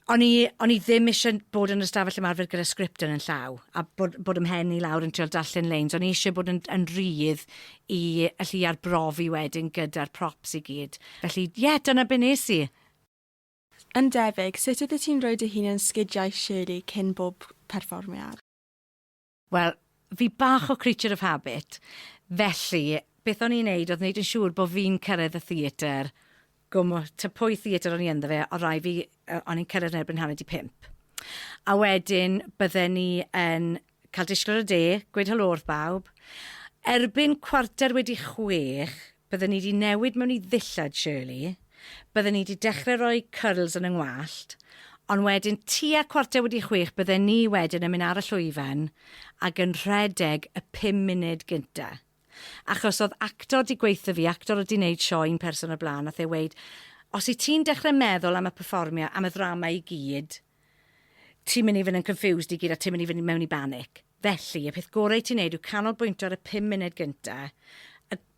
O'n i, o'n i ddim ishe bod yn y stafell ymarfer gyda sgript yn yn llaw, a bod, bod ymhen i lawr yn trial darllen leins. O'n i ishe bod yn, yn rydd i allu arbrofi wedyn gyda'r props i gyd. Felly, ie, yeah, dyna be nes i. Yn debyg, sut oeddet ti'n rhoi dy hun yn sgidiau Shirley cyn bob perfformiad? Wel, fi bach o creature of habit, felly beth o'n i'n neud oedd neud yn siŵr bod fi'n cyrraedd y theatr, gwmw, ta pwy theatr o'n i ynddo fe, o rai fi, o'n i'n cyrraedd yn erbyn hanner di pump. A wedyn bydden ni yn cael disgwyl ar y de, gweud helo wrth bawb. Erbyn cwarter wedi chwech, Bydden ni 'di newid mewn i ddillad, Shirley. Bydden ni 'di dechre roi cyrls yn 'y ngwallt, ond wedyn tua cwarter wedi chwech bydden ni wedyn yn mynd ar y llwyfan ag yn rhedeg y pum munud gynta. Achos o'dd actor 'di gweutho fi, actor o'dd 'di neud sioe un person o'r bla'n, nath e weud, os wyt ti'n dechre meddwl am y perfformio, am y ddrama i gyd, ti'n mynd i fynd yn confused i gyd a ti'n mynd i fynd mewn i banic. Felly, y peth gorau ti'n neud yw canolbwyntio ar y 5 munud gyntaf.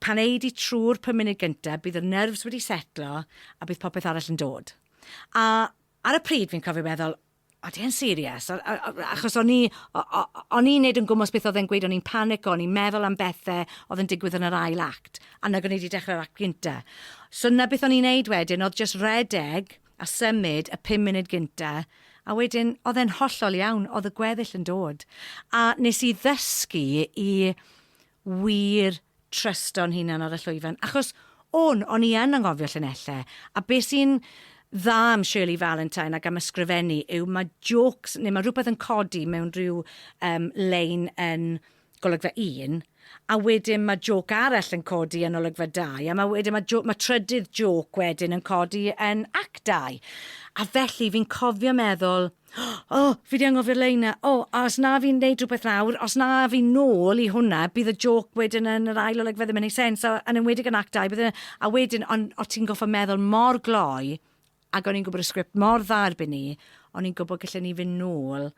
Pan ei di trwy'r 5 munud gyntaf, bydd y nerfs wedi setlo a bydd popeth arall yn dod. A ar y pryd fi'n cofio meddwl, o di e'n serious? Achos o'n i'n neud yn gwmwys beth oedd e'n gweud, o'n i'n panic, o'n i'n meddwl am bethau oedd yn digwydd yn yr ail act, a nag o'n i wedi dechrau'r act gyntaf. So na beth o'n i'n neud wedyn, oedd just redeg, a symud y pum munud gynta, a wedyn oedd e'n hollol iawn, oedd y gweddill yn dod. A nes i ddysgu i wir trysto'n hunan ar y llwyfan, achos o'n, o'n i yn anghofio llinellau, a be sy'n dda am Shirley Valentine ac am ysgrifennu yw mae jokes, neu mae rhywbeth yn codi mewn rhyw um, lein yn golygfa un, a wedyn ma' jôc arall yn codi yn olygfa dau, a ma' wedyn ma' jô- ma' trydydd jôc wedyn yn codi yn act dau. A felly fi'n cofio meddwl O! Fi 'di anghofio'r lein 'na. O! A os na fi'n neud rhwbeth nawr, os na fi'n nôl i hwnna, bydd y jôc wedyn yn yr ail olygfa ddim yn neud sense, a yn enwedig yn act dau bydd e... A wedyn on' o' ti'n go'ffo' meddwl mor gloi, ag o'n i'n gwbod y sgript mor dda erbyn 'ny, o'n i'n gwbod gelle ni fyn' nôl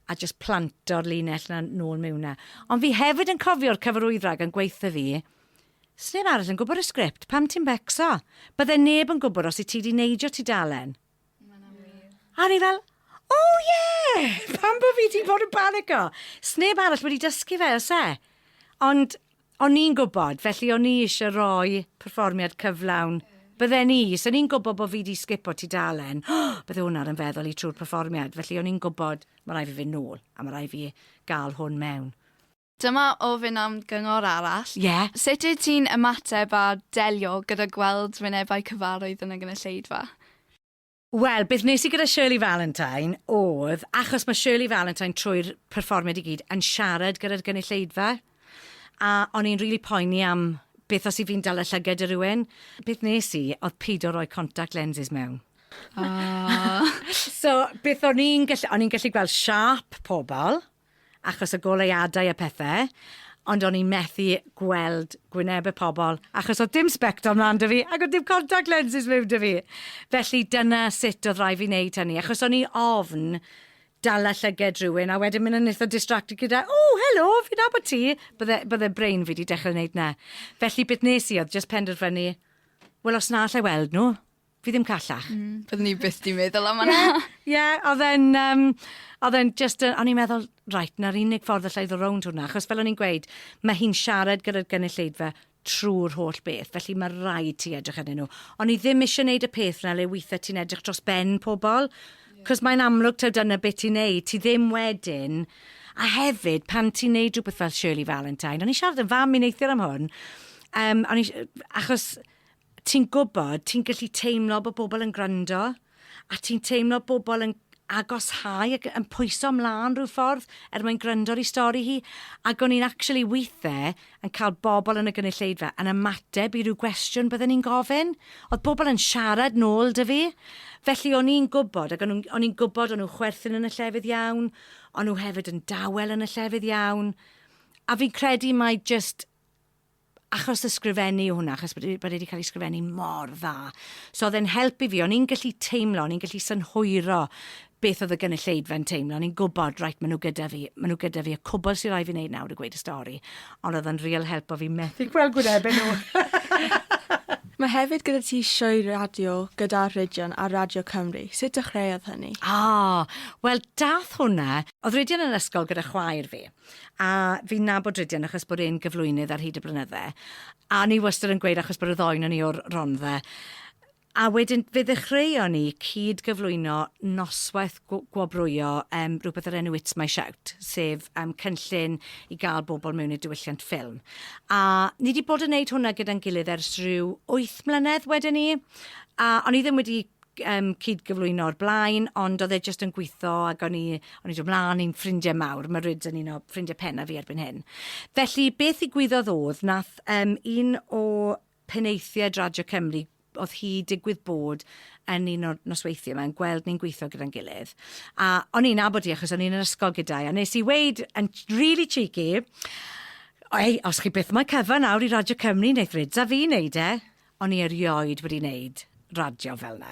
a jyst planto'r linell na nôl mewn na. Ond fi hefyd yn cofio'r cyfarwyddwraig yn gweithio fi, sneb arall yn gwybod y sgript, pam ti'n becso? Bydde neb yn gwybod os i ti di neidio ti dalen. A ni fel, oh yeah! Pam bod fi di bod yn panico? Sneb arall wedi dysgu fe, os e? Ond O'n i'n gwybod, felly o'n i eisiau rhoi perfformiad cyflawn. Bydden i, 'sen i'n gwybod bod fi 'di sgipo tudalen, bydde hwnna ar 'y mfeddwl i trwy'r perfformiad, felly o'n i'n gwybod, ma' raid fi fynd nôl, a ma' raid fi gael hwn mewn. Dyma ofyn am gyngor arall. Ie. Sut wyt ti'n ymateb a delio gyda gweld wynebau cyfarwydd yn y gynulleidfa? Wel, beth wnes i gyda Shirley Valentine oedd, achos mae Shirley Valentine trwy'r perfformiad i gyd yn siarad gyda'r gynulleidfa, a o'n i'n rili poeni am beth os 'y fi'n dala llyged i rywun. Beth wnes i oedd peido roi contact lenses mewn. So, beth o'n i'n gallu... o'n i'n gallu gweld siâp pobl, achos y goleuadau a pethe, ond o'n i'n methu gweld gwyneb y pobl, achos oedd dim sbectol mlan 'da fi, ac oedd dim contact lenses miwn 'da fi. Felly dyna sut oedd rhaid fi wneud hynny, achos o'n i ofn dala llyged rhywun, a wedyn mynd yn eitha distracted gyda, o, helo, fi'n nabod ti! Bydde, bydde brain fi wedi dechrau wneud 'na. Felly beth nes i oedd jyst penderfynu, wel, os na alla i weld nhw, Fi ddim callach. Mm. Byddwn ni byth di meddwl am yna. Ie, yeah, oedd e'n... Um, oedd e'n just... O'n i'n meddwl, right, na'r unig ffordd allai ddod rownd hwnna, achos fel o'n i'n gweud, mae hi'n siarad gyda'r gynulleidfa trwy'r holl beth, felly mae rhaid ti edrych yn nhw. Ond i ddim eisiau gwneud y peth yna le weithiau ti'n edrych dros ben pobl, cos yeah. mae'n amlwg taw dyna beth ti'n neud, ti ddim wedyn... A hefyd, pan ti'n neud rhywbeth fel Shirley Valentine, o'n i siarad yn fam i neithiwr am hwn, um, o'n i, achos Ti'n gwybod, ti'n gallu teimlo bod pobl yn gwrando, a ti'n teimlo bobl yn agoshau ac yn pwyso mlaen rhyw ffordd er mwyn gwrando ar ei stori hi. Ac o'n i'n actually weithiau yn cael bobl yn y gynulleidfa yn ymateb i ryw gwestiwn bydden ni'n gofyn. Oedd pobl yn siarad nôl 'da fi. Felly o'n i'n gwybod, ac o'n nhw'n- o'n i'n gwybod o'n nhw'n chwerthin yn y llefydd iawn, o'n nhw hefyd yn dawel yn y llefydd iawn, a fi'n credu mai jyst achos ysgrifennu yw hwnna, achos bod e, bod e wedi cael ei sgrifennu mor dda. So oedd e'n help i fi, o'n i'n gallu teimlo, o'n i'n gallu synhwyro beth oedd y gynulleidfa'n teimlo. O'n i'n gwybod, rhaid, maen nhw gyda fi, maen nhw gyda fi, y cwbl sy'n rhaid fi wneud nawr i gweud y stori. Ond oedd yn real help o fi methu gweld gwynebau nhw. Mae hefyd gyda ti sioe radio gyda Rhydion ar Radio Cymru. Sut dechreuodd hynny? Ah, wel, dath hwnna... Oedd Rhydion yn ysgol gyda chwaer fi. a fi'n nabod Rhydian achos bod e'n gyflwynydd ar hyd y blynydde, a ni wastad yn gweud achos bod y ddoen o'n i o'r Rondda, a wedyn fe ddechreuon ni cyd gyflwyno noswaith gwobrwyo um, rhywbeth o'r enw It's My Shout, sef um, cynllun i gael bobl mewn i'r diwylliant ffilm. A ni wedi bod yn gwneud hwnna gyda'n gilydd ers rhyw 8 mlynedd wedyn ni, a o'n i ddim wedi yym cyd-gyflwyno o'r blaen, ond oedd e jyst yn gweithio ac o'n i, o'n i'n dod mlaen i'n ffrindiau mawr, mae Ryd yn un o ffrindiau penna fi erbyn hyn. Felly, beth i gwyddoedd oedd, nath um, un o penaethiaid Radio Cymru, oedd hi digwydd bod yn un o'r nosweithiau yma, yn gweld ni'n gweithio gyda'n gilydd. A o'n i'n abod i achos o'n i'n yr ysgol gyda'i, a nes i weid yn really cheeky, Ei, os chi byth mae cyfan nawr i Radio Cymru, wneud Ryd a fi wneud e. O'n i erioed wedi neud radio fel 'na.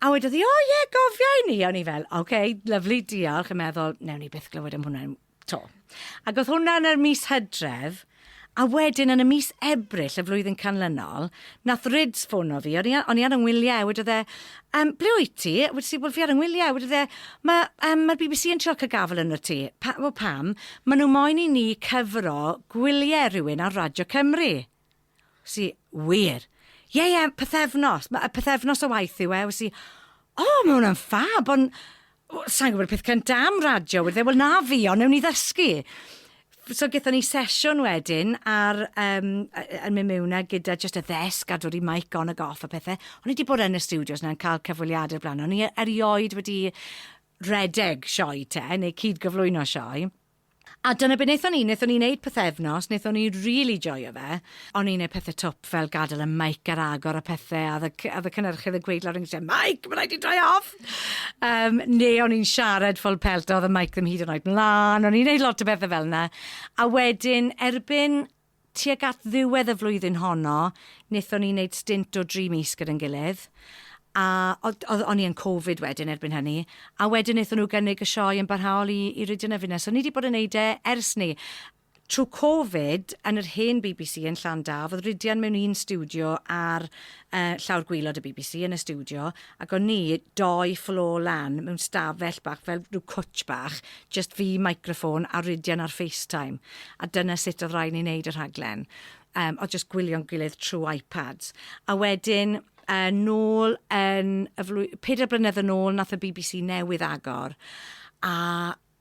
A wedodd 'i, O ie, gofia i ni! A o'n i fel, OK, lyfli, diolch, yn meddwl, newn ni byth glywed am hwnna 'to. Ac o'dd hwnna yn yr mis Hydref, a wedyn yn y mis Ebrill y flwyddyn canlynol, nath Rids ffono fi, o'n i a- o'n i ar 'y ngwylie, a wedodd e, Yym, ble wyt ti? A wedes i, Wel, fi ar 'y ngwylie. A wedodd e, Ma' yym ma'r Bee Bee See yn trio ca'l gafel arnot ti. Pa- wel, pam? Ma' nw moyn i ni cyfro gwylie rhywun ar Radio Cymru. Si, wir. Ie, ie, pythefnos. Mae y pythefnos o waith yw e. Si, o, oh, mae hwnna'n ffab, ond... Sa'n gwybod peth cynt am radio, wedi, wel na fi, ond newn ni ddysgu. So gyda ni sesiwn wedyn ar, um, yn mynd mewn gyda just y ddesg a dod i mic on ag off a pethau. O'n i wedi bod yn y studios na'n cael cyfweliadau blaen. O'n i erioed wedi redeg sioe te, neu cyd gyflwyno sioe. A dyna be wnaethon ni, wnaethon ni wneud pythefnos, wnaethon ni rili joio fe. O'n i'n wneud pethe twp fel gadael y mike ar agor a pethe, a oedd y oedd y cynhyrchydd yn gweud lawr yn nghytre, 'Mike, ma' raid ti droi e off! Yym, neu o'n i'n siarad full pelt a oedd y mike ddim hyd yn oed mlan, o'n i'n wneud lot o bethe fel 'na. A wedyn, erbyn Tuag at ddiwedd y flwyddyn honno, wnaethon ni wneud stint o dri mis gyda'n gilydd, a oedd, oedd, o'n i yn Covid wedyn erbyn hynny, a wedyn wnaethon nhw gynnig y sioe yn barhaol i, i Rhydychen a Finne. So, ni 'di bod yn wneud e ers 'ny. Trwy Covid, yn yr hen bbc yn Llandaf, oedd Rhydian mewn un stiwdio ar yy llawr gwaelod y bbc, yn y stiwdio, Ac o'n ni dou floor lan mewn stafell bach fel rhyw cwtsh bach, jyst fi, microffon a Rhydian ar FaceTime. A dyna sut oedd rhaid ni wneud y rhaglen. Yym, oedd jyst gwylio'n gilydd trwy iPads. A wedyn, yy, nôl yn y flwy- pedair blynedd yn ôl, nath y bbc newydd agor, a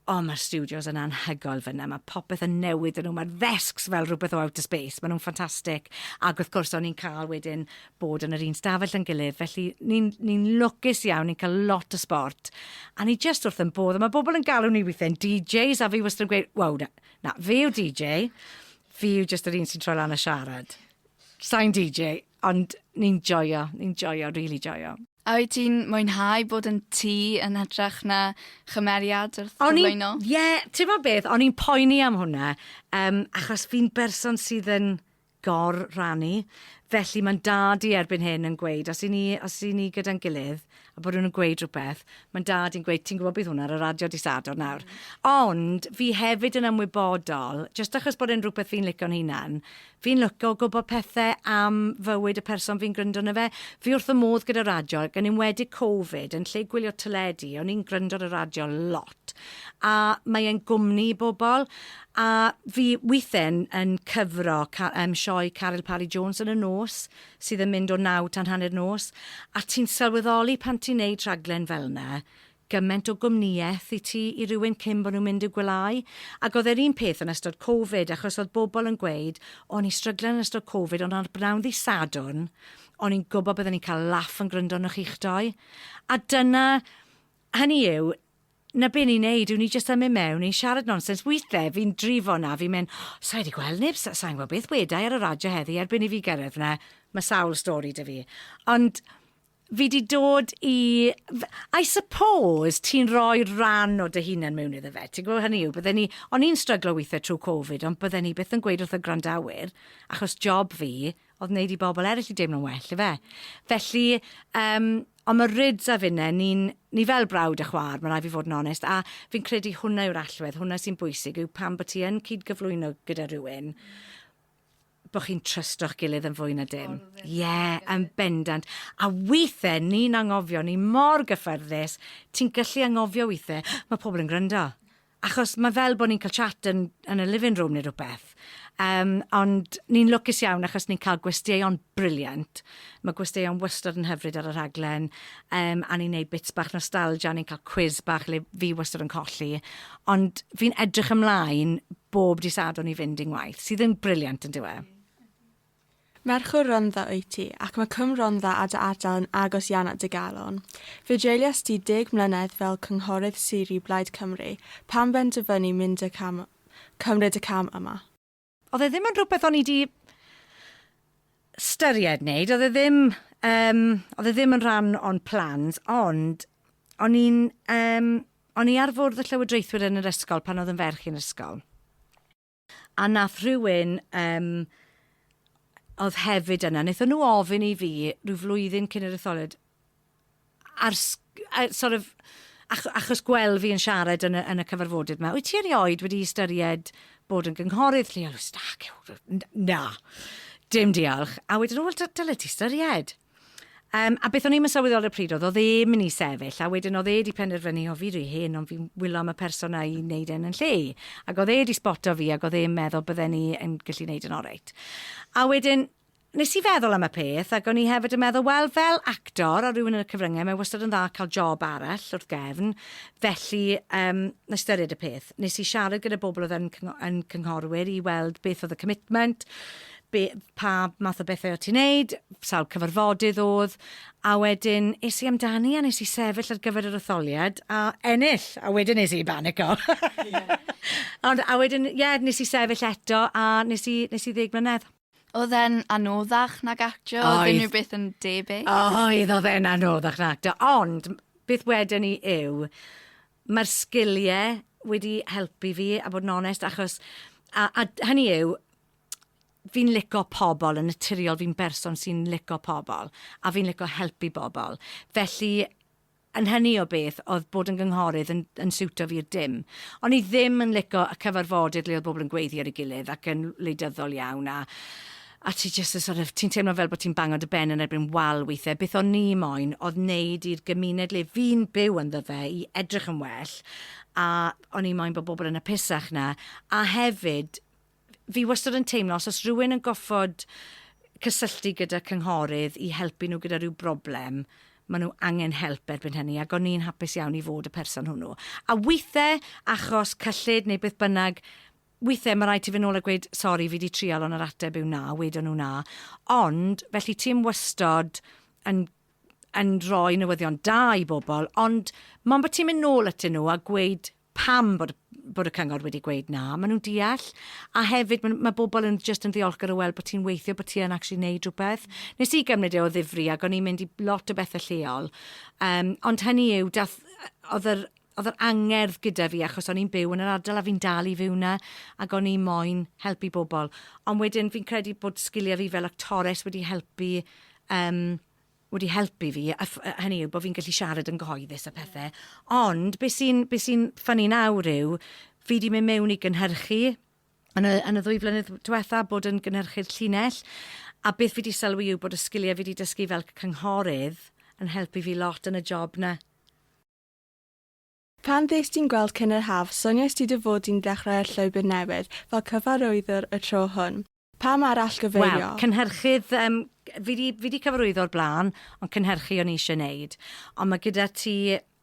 O mae'r stiwdios yn anhygoel fan'na, mae popeth yn newid yn nhw, mae'r ddesgs fel rhywbeth o outer space, maen nhw'n ffantastig, ac wrth gwrs o'n ni'n cael wedyn bod yn yr un stafell yn gilydd, felly ni'n ni lwcus iawn, ni'n cael lot o sbort, a ni jyst wrth yn bodd, a mae bobl yn galw ni weithiau'n DJs, a fi wastad yn gweud, waw, na, na, fi yw DJ, fi yw jyst yr un sy'n troi lan a siarad. Sain DJ, ond ni'n joio, ni'n joio, rili really joio. A wyt ti'n mwynhau bod yn ti yn hytrach na chymeriad wrth gyflwyno? Ie, yeah, ti'n bod beth, o'n i'n poeni am hwnna, um, achos fi'n berson sydd yn gor rannu, felly mae'n dad i erbyn hyn yn gweud, os i ni, os i ni gyda'n gilydd, a bod nhw'n gweud rhywbeth, mae'n dad i'n gweud, ti'n gwybod beth hwnna ar y radio di sadwrn nawr. Mm. Ond fi hefyd yn ymwybodol, jyst achos bod e'n rhywbeth fi'n licio'n hunan, Fi'n lwco gwybod pethe am fywyd y person fi'n gryndo arno fe. Fi wrth y modd gyda radio ac yn enwedig Covid, yn lle gwylio teledu, o'n i'n gryndo ar y radio lot. A mae e'n gwmni i bobl. A fi withe yn, yn cyfro ca, um, sioe Caryl Parry Jones yn y nos, sydd yn mynd o naw tan hanner nos, a ti'n sylweddoli pan ti'n neud rhaglen fel yna, gyment o gwmnïaeth i ti i rywun cyn bod nhw'n mynd i'w gwelyau, ac oedd e'r un peth yn ystod covid achos oedd bobl yn gweud o'n i'n stryglan yn ystod covid ond ar bnawn ddydd Sadwrn o'n i'n gwybod bydden i'n cael laff yn gwryndo arnoch chi'ch dou a dyna hynny yw 'na be ni'n neud yw ni jyst yn mynd mewn ni'n siarad nonsens withe fi'n drifo 'na fi'n mynd oh, sa i wedi gweld neb sa, sa'n gwybod beth wedai ar y radio heddi erbyn i fi gyrraedd 'na mae sawl stori 'da fi ond Fi 'di dod i... F- I suppose ti'n rhoi ran o dy hunan mewn iddo fe, ti'n gwybod, hynny yw, bydden ni... O'n i'n stryglo weithiau trwy Covid, ond bydden ni byth yn gweud wrth y gwrandawyr, achos job fi oedd wneud i bobl eraill i deimlo'n well, ife? Felly, yym, ond mae Rids a finne, ni'n... Ni fel brawd a chwaer, mae rhaid fi fod yn onest, a fi'n credu hwnna yw'r allwedd, hwnna sy'n bwysig, yw pan bod ti yn cyd-gyflwyno gyda rhywun, bo chi'n trysto'ch gilydd yn fwy na dim. Ie, yn bendant. A weithe, ni'n anghofio, ni mor gyffyrddus, ti'n gallu anghofio weithe, mae pobl yn gwrando. Achos mae fel bod ni'n cael chat yn, yn y living room neu rhywbeth. Um, ond ni'n lwcus iawn achos ni'n cael gwesteion briliant Mae gwesteion wastad yn hyfryd ar y rhaglen, um, a ni'n neud bits bach nostalgia, a ni'n cael quiz bach le fi wastad yn colli. Ond fi'n edrych ymlaen bob disadwn i fynd i'n waith, sydd yn briliant yn diwe. Merch o Rondda wyt ti, ac mae Cwm Rondda a dy ardal yn agos iawn at dy galon. Fe dreuliost ti deg mlynedd fel cynghorydd sir i Blaid Cymru, pam benderfynu mynd y cam, cymryd y cam yma? Oedd e ddim yn rhywbeth o'n i di styried wneud, oedd e ddim, um, oedd e ddim yn rhan o'n plans, ond o'n i'n, um, o'n i ar fwrdd y llywodraethwyr yn yr ysgol pan oedd yn ferch i'n ysgol. A nath rhywun, um, oedd hefyd yna, wnaethon nhw ofyn i fi rhyw flwyddyn cyn yr etholiad, Ar uh, sort of, ach, achos gweld fi yn siarad yn y, yn y cyfarfodydd yma, wyt ti erioed wedi ystyried bod yn gynghorydd lleol? Stac, na, dim diolch. A wedyn, wel, dyle ti ystyried. Um, a beth o'n i'n mysywyddol y pryd oedd, oedd e mynd i sefyll, a wedyn oedd e wedi penderfynu, o fi rhy hen, ond fi'n wylo am y person a'i wneud e'n yn lle. Ac oedd e wedi sboto fi, ac oedd e'n meddwl bydden ni yn gallu wneud yn oreit. A wedyn, Nes i feddwl am y peth, ac o'n i hefyd yn meddwl, wel, fel actor a rhywun yn y cyfryngau, mae wastad yn dda cael job arall wrth gefn, felly um, na styried y peth. Nes i siarad gyda bobl oedd yn, yn cynghorwyr i weld beth oedd y commitment, be, pa math o bethau o ti'n neud, sawl cyfarfodydd oedd, a wedyn es i amdani a nes i sefyll ar gyfer yr etholiad a ennill, a wedyn nes i banico. Yeah. Ond a wedyn, ie, yeah, nes i sefyll eto a nes i, nes i ddeg mlynedd. Oedd e'n anoddach nag actio? Oedd. Oedd unrhyw beth yn debyg? Oedd, oedd e'n anoddach nag actio. Ond, beth wedyn ni yw, mae'r sgiliau wedi helpu fi, a bod yn onest, achos... A, a hynny yw, fi'n lico pobl yn naturiol, fi'n berson sy'n lico pobl, a fi'n lico helpu bobl. Felly, yn hynny o beth oedd bod yn gynghorydd yn yn siwto fi i'r dim. O'n i ddim yn lico y cyfarfodydd le oedd bobl yn gweiddi ar ei gilydd ac yn wleidyddol iawn a a ti jyst yn sort of ti'n teimlo fel bod ti'n bango dy ben yn erbyn wal weithiau. Beth o'n i moyn oedd neud i'r gymuned le fi'n byw ynddo fe i edrych yn well a o'n i moyn bod bobl yn apusach na a hefyd Fi wastad yn teimlo os oes rhywun yn goffod cysylltu gyda cynghorydd i helpu nhw gyda rhyw broblem, maen nhw angen help erbyn hynny, ac o'n i'n hapus iawn i fod y person hwnnw. A weithiau, achos cyllid neu beth bynnag, weithiau mae rhaid ti fynd nôl a gweud, sori, fi di trial ond yr ateb yw na, wedon nhw na. Ond, felly ti yn wastod yn yn rhoi newyddion da i bobl, ond mae'n bod ti'n mynd nôl atyn nhw a gweud, pam bod bod y cyngor wedi gweud na, maen nhw'n deall, a hefyd mae ma bobl yn jyst yn ddiolchgar o weld bod ti'n weithio, bod ti yn actually wneud rhywbeth. Nes i gymryd e o ddifri ac o'n i'n mynd i lot o bethau lleol, um, ond hynny yw, dath, oedd yr, oedd yr angerdd gyda fi achos o'n i'n byw yn yr ardal a fi'n dal i fyw na ac o'n i moyn helpu bobl. Ond wedyn fi'n credu bod sgiliau fi fel actores wedi helpu um, wedi helpu fi, a ff- yy hynny yw bo' fi'n gallu siarad yn gyhoeddus a phethe. Ond be' sy'n be' sy'n ffyni nawr yw fi 'di mynd mewn i gynhyrchu yn y yn y ddwy flynedd dwetha, bod yn gynhyrchydd llinell, a beth fi 'di sylwi yw bod y sgilie fi 'di dysgu fel cynghorydd yn helpu fi lot yn y job 'na. Pan ddes di'n gweld Cyn yr Haf, soniais di dy fod di'n dechrau'r llwybr newydd fel cyfarwyddwr y tro hwn. Pam arall gyfeirio? Wel, cynhyrchydd, yym, fi 'di, fi 'di cyfarwyddo o'r blaen, ond cynhyrchu o'n i eisiau neud. Ond ma' gyda ti,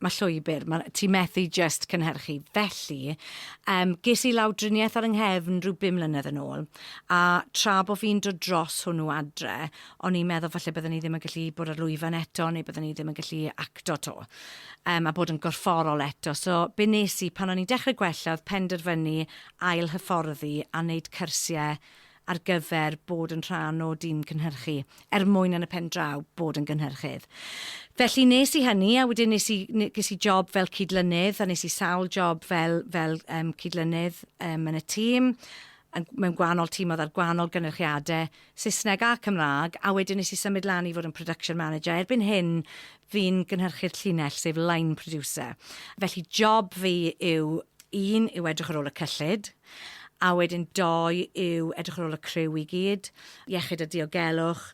ma' llwybr, ma', ti methu jyst cynhyrchu. Felly, yym, ges i lawdriniaeth ar 'y nghefn rhyw bum mlynedd yn ôl, a tra bo' fi'n dod dros hwnnw adre, o'n i'n meddwl falle bydden i ddim yn gallu bod ar lwyfan eto neu bydden i ddim yn gallu acto to. Um, a bod yn gorfforol eto. So be nes i pan o'n i'n dechrau gwella oedd penderfynu ail hyfforddi a wneud cyrsiau ar gyfer bod yn rhan o dîm cynhyrchu, er mwyn yn y pen draw bod yn gynhyrchydd. Felly nes i hynny, a wedyn nes i, nes i job fel cydlynydd, a nes i sawl job fel, fel um, cydlynydd um, yn y tîm, mewn gwahanol tîm oedd ar gwahanol gynhyrchiadau, Saesneg a Cymraeg, a wedyn nes i symud lan i fod yn production manager. Erbyn hyn, fi'n gynhyrchu'r llinell, sef line producer. Felly, job fi yw, un, yw edrych ar ôl y cyllid, a wedyn dou, yw edrych ar ôl y criw i gyd, iechyd a diogelwch,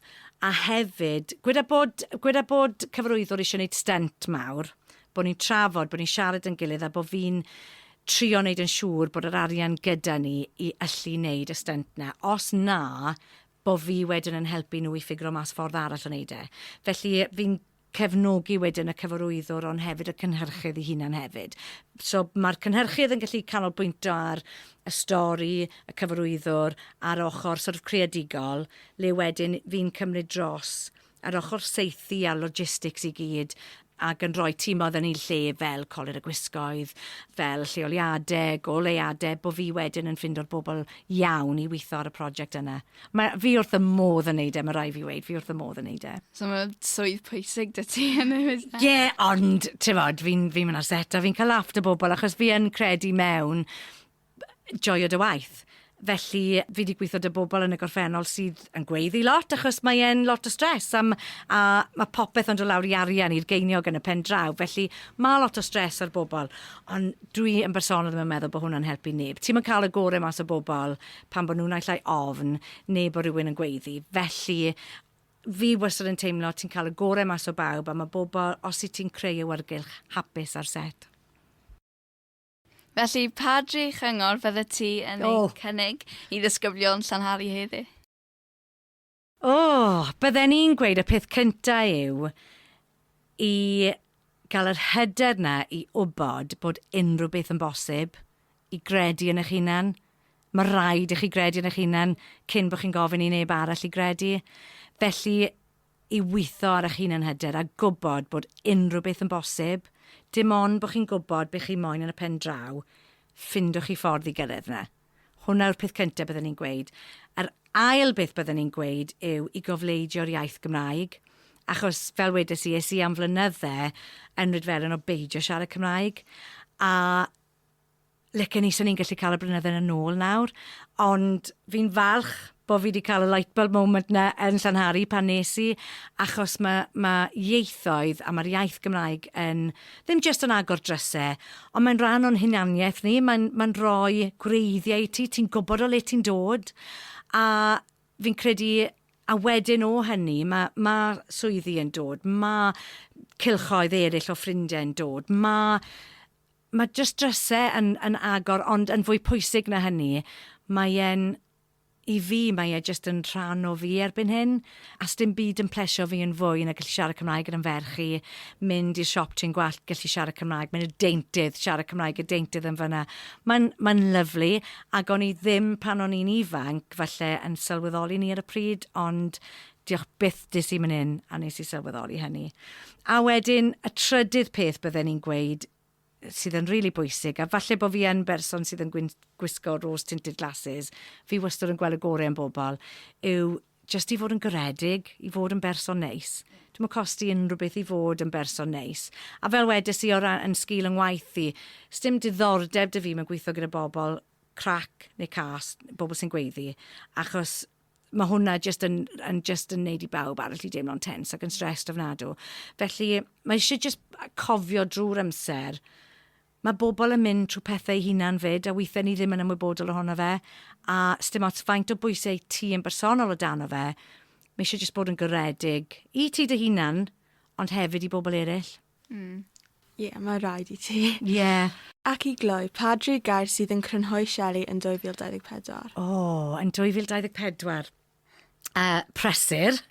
a hefyd, gweda bod, gweda bod cyfarwyddwr eisiau wneud stynt mawr, bod ni'n trafod, bod ni'n siarad yn gilydd a bod fi'n trio wneud yn siŵr bod yr arian gyda ni i allu wneud y stynt 'na, os na, bo' fi wedyn yn helpu nhw i ffigro mas ffordd arall o wneud e. Felly, fi'n cefnogi wedyn y cyfarwyddwr ond hefyd y cynhyrchydd 'i hunan hefyd. So, ma'r cynhyrchydd yn gallu canolbwyntio ar y stori, y cyfarwyddwr, a'r ochr sort of creadigol, le wedyn fi'n cymryd dros yr ochr saethu a'r logistics i gyd, ac yn rhoi timoedd yn eu lle fel colur y gwisgoedd, fel lleoliade, goleuade, bo' fi wedyn yn ffindo'r bobl iawn i weitho ar y project yna. Mae... fi wrth y modd yn neud e, ma' rai' fi weud, fi wrth y modd yn neud e. So ma' swydd pwysig 'da ti yn y busnes? Ie, ond t'mod fi'n fi'n myn' ar set a fi'n ca'l laff 'da bobl achos fi yn credu mewn joio dy waith. Felly fi 'di gwitho 'da bobl yn y gorffennol sydd yn gweiddi lot achos mae e'n lot o stres am a ma' popeth yn do' lawr i arian i'r geiniog yn y pen draw felly ma' lot o stres ar bobl ond dwi yn bersonol ddim yn meddwl bo' hwnna'n helpu neb. Ti'm yn ca'l y gore mas o bobl pan bo' nw naill ai ofn ne' bo' rywun yn gweiddi felly fi wastad yn teimlo ti'n ca'l y gore mas o bawb a ma' bobl os wyt ti'n creu awyrgylch hapus ar set. Felly, pa dri chyngor fyddet ti yn ei cynnig i ddisgyblion Llanhari heddi? O! Bydden i'n gweud y peth cynta yw i gael yr hyder 'na i wybod bod unrhyw beth yn bosib, i gredu yn eich hunan. Mae rhaid i chi gredu yn eich hunan cyn bod chi'n gofyn i neb arall i gredu. Felly, i weithio ar eich hunan hyder a gwybod bod unrhyw beth yn bosib, dim ond bod chi'n gwybod be chi moyn yn y pen draw, ffindwch chi ffordd i gyrraedd yna. Hwnna yw'r peth cyntaf bydden i'n gweud. Yr ail beth bydden i'n gweud yw i gofleidio'r iaith Gymraeg, achos fel wedes i, es i am flynydde yn Rydfelen o beidio siarad Cymraeg, a Licen i, so ni'n gallu cael y blynydde yn ôl nawr, ond fi'n falch bod fi wedi cael y light bulb moment na yn Llanhari pan nes i, achos mae, mae ieithoedd a mae'r iaith Gymraeg yn, ddim jyst yn agor drysau, ond mae'n rhan o'n hunaniaeth ni, mae'n mae rhoi gwreiddiau i ti, ti'n gwybod o le ti'n dod, a fi'n credu a wedyn o hynny, mae, mae swyddi yn dod, mae cylchoedd eraill o ffrindiau'n dod, mae Mae jyst drysau yn yn agor ond yn fwy pwysig na hynny mae e'n, i fi mae e jyst yn rhan o fi erbyn hyn a sdim byd yn plesio fi yn fwy na gallu siarad Cymraeg gyda'n ferch i, mynd i'r siop trên gwallt gallu siarad Cymraeg, mynd i'r deintydd siarad Cymraeg i'r deintydd yn fan'na. Mae'n mae'n lyfli ac o'n i ddim pan o'n i'n ifanc falle yn sylweddoli 'ny ar y pryd ond Diolch byth des i myn yn a nes i sylweddoli hynny. A wedyn y trydydd peth bydden i'n gweud sydd yn rili bwysig a falle bod fi yn berson sydd yn gwyn- gwisgo rose tinted glasses fi wastad yn gweld y gore yn bobl yw jyst i fod yn garedig, i fod yn berson neis. Dwi'm yn costi unrhyw beth i fod yn berson neis. A fel wedes i o ran yn sgil yng ngwaith i, sdim diddordeb 'da fi mewn gweithio gyda bobl crac neu cas, bobl sy'n gweiddi, achos mae hwnna jyst yn, yn, just yn neud i bawb arall i deimlo'n tens ac yn stressed ofnadw. Felly, mae eisiau jyst cofio drwy'r amser, mae bobl yn mynd trwy pethau hunan fyd, a weithiau ni ddim yn ymwybodol ohono fe, a stym ots faint o bwysau ti yn bersonol o dan o fe, mae eisiau jyst bod yn goredig i ti dy hunan, ond hefyd i bobl eraill. Mm. Ie, yeah, mae rhaid i ti. Ie. Yeah. Ac i gloi, pa dri gair sydd yn crynhoi Shelley yn 2024? O, oh, yn 2024. Uh, presur.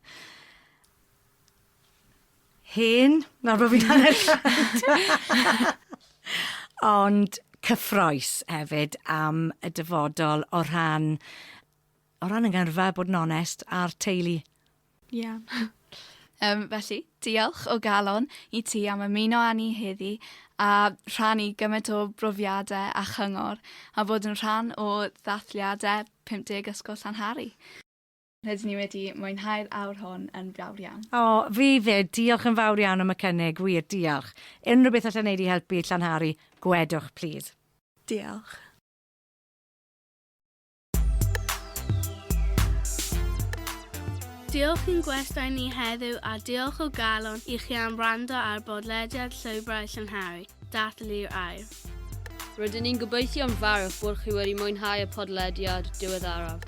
Hen. Nawr bod fi'n hanner llawd. Ond cyffroes hefyd am y dyfodol o rhan O ran 'y ngyrfa, bod yn onest, a'r teulu. Iawn. Yym, felly, diolch o galon i ti am ymuno â ni heddi a rhannu gymaint o brofiadau a chyngor a bod yn rhan o ddathliadau 50 Ysgol Llanhari. Rydyn ni wedi mwynhau'r awr hwn yn fawr iawn. O, fi 'fyd. Diolch yn fawr iawn am y cynnig, wir, diolch. Unrhyw beth alla wneud i helpu Llanhari, gwedwch plîs. Diolch. Diolch i'n gwestai ni heddiw a diolch o galon i chi am wrando ar bodlediad Llwybrau Llynhari, Dathlu'r Air. Rydyn ni'n gobeithio'n fawr bod chi wedi mwynhau y podlediad diweddaraf.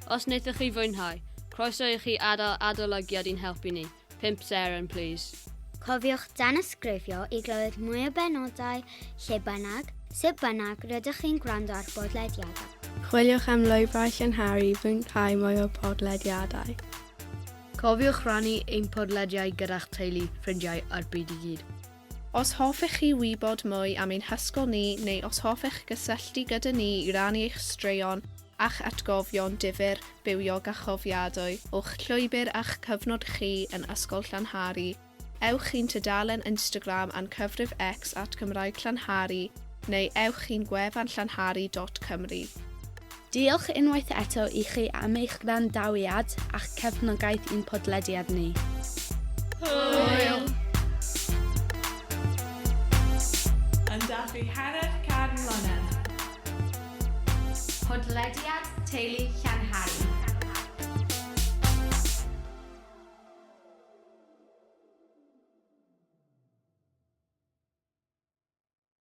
Os wnaethoch chi fwynhau, croeso i chi adael adolygiad i'n helpu ni. Pump seren, please. Cofiwch danysgrifio i glywed mwy o benodau lle bynnag, sut bynnag rydych chi'n gwrando ar bodlediadau. Chwiliwch am lwybrau llynharu i fwynhau mwy o podlediadau. Cofiwch rannu ein podlediau gyda'ch teulu, ffrindiau a'r byd i gyd. Os hoffech chi wybod mwy am ein hysgol ni neu os hoffech gysylltu gyda ni i rannu eich straeon a'ch atgofion difyr, bywiog a chofiadwy o'ch llwybr a'ch cyfnod chi yn Ysgol Llanhari, ewch i'n tudalen Instagram a'n cyfrif X at Gymraeg Llanhari neu ewch i'n gwefan llanhari dot cymru. Diolch unwaith eto i chi am eich gwrandawiad a'ch cefnogaeth i'n podlediad ni. Hwyl! Yn dathlu hanner can mlynedd. Podlediad Teulu Llanhari.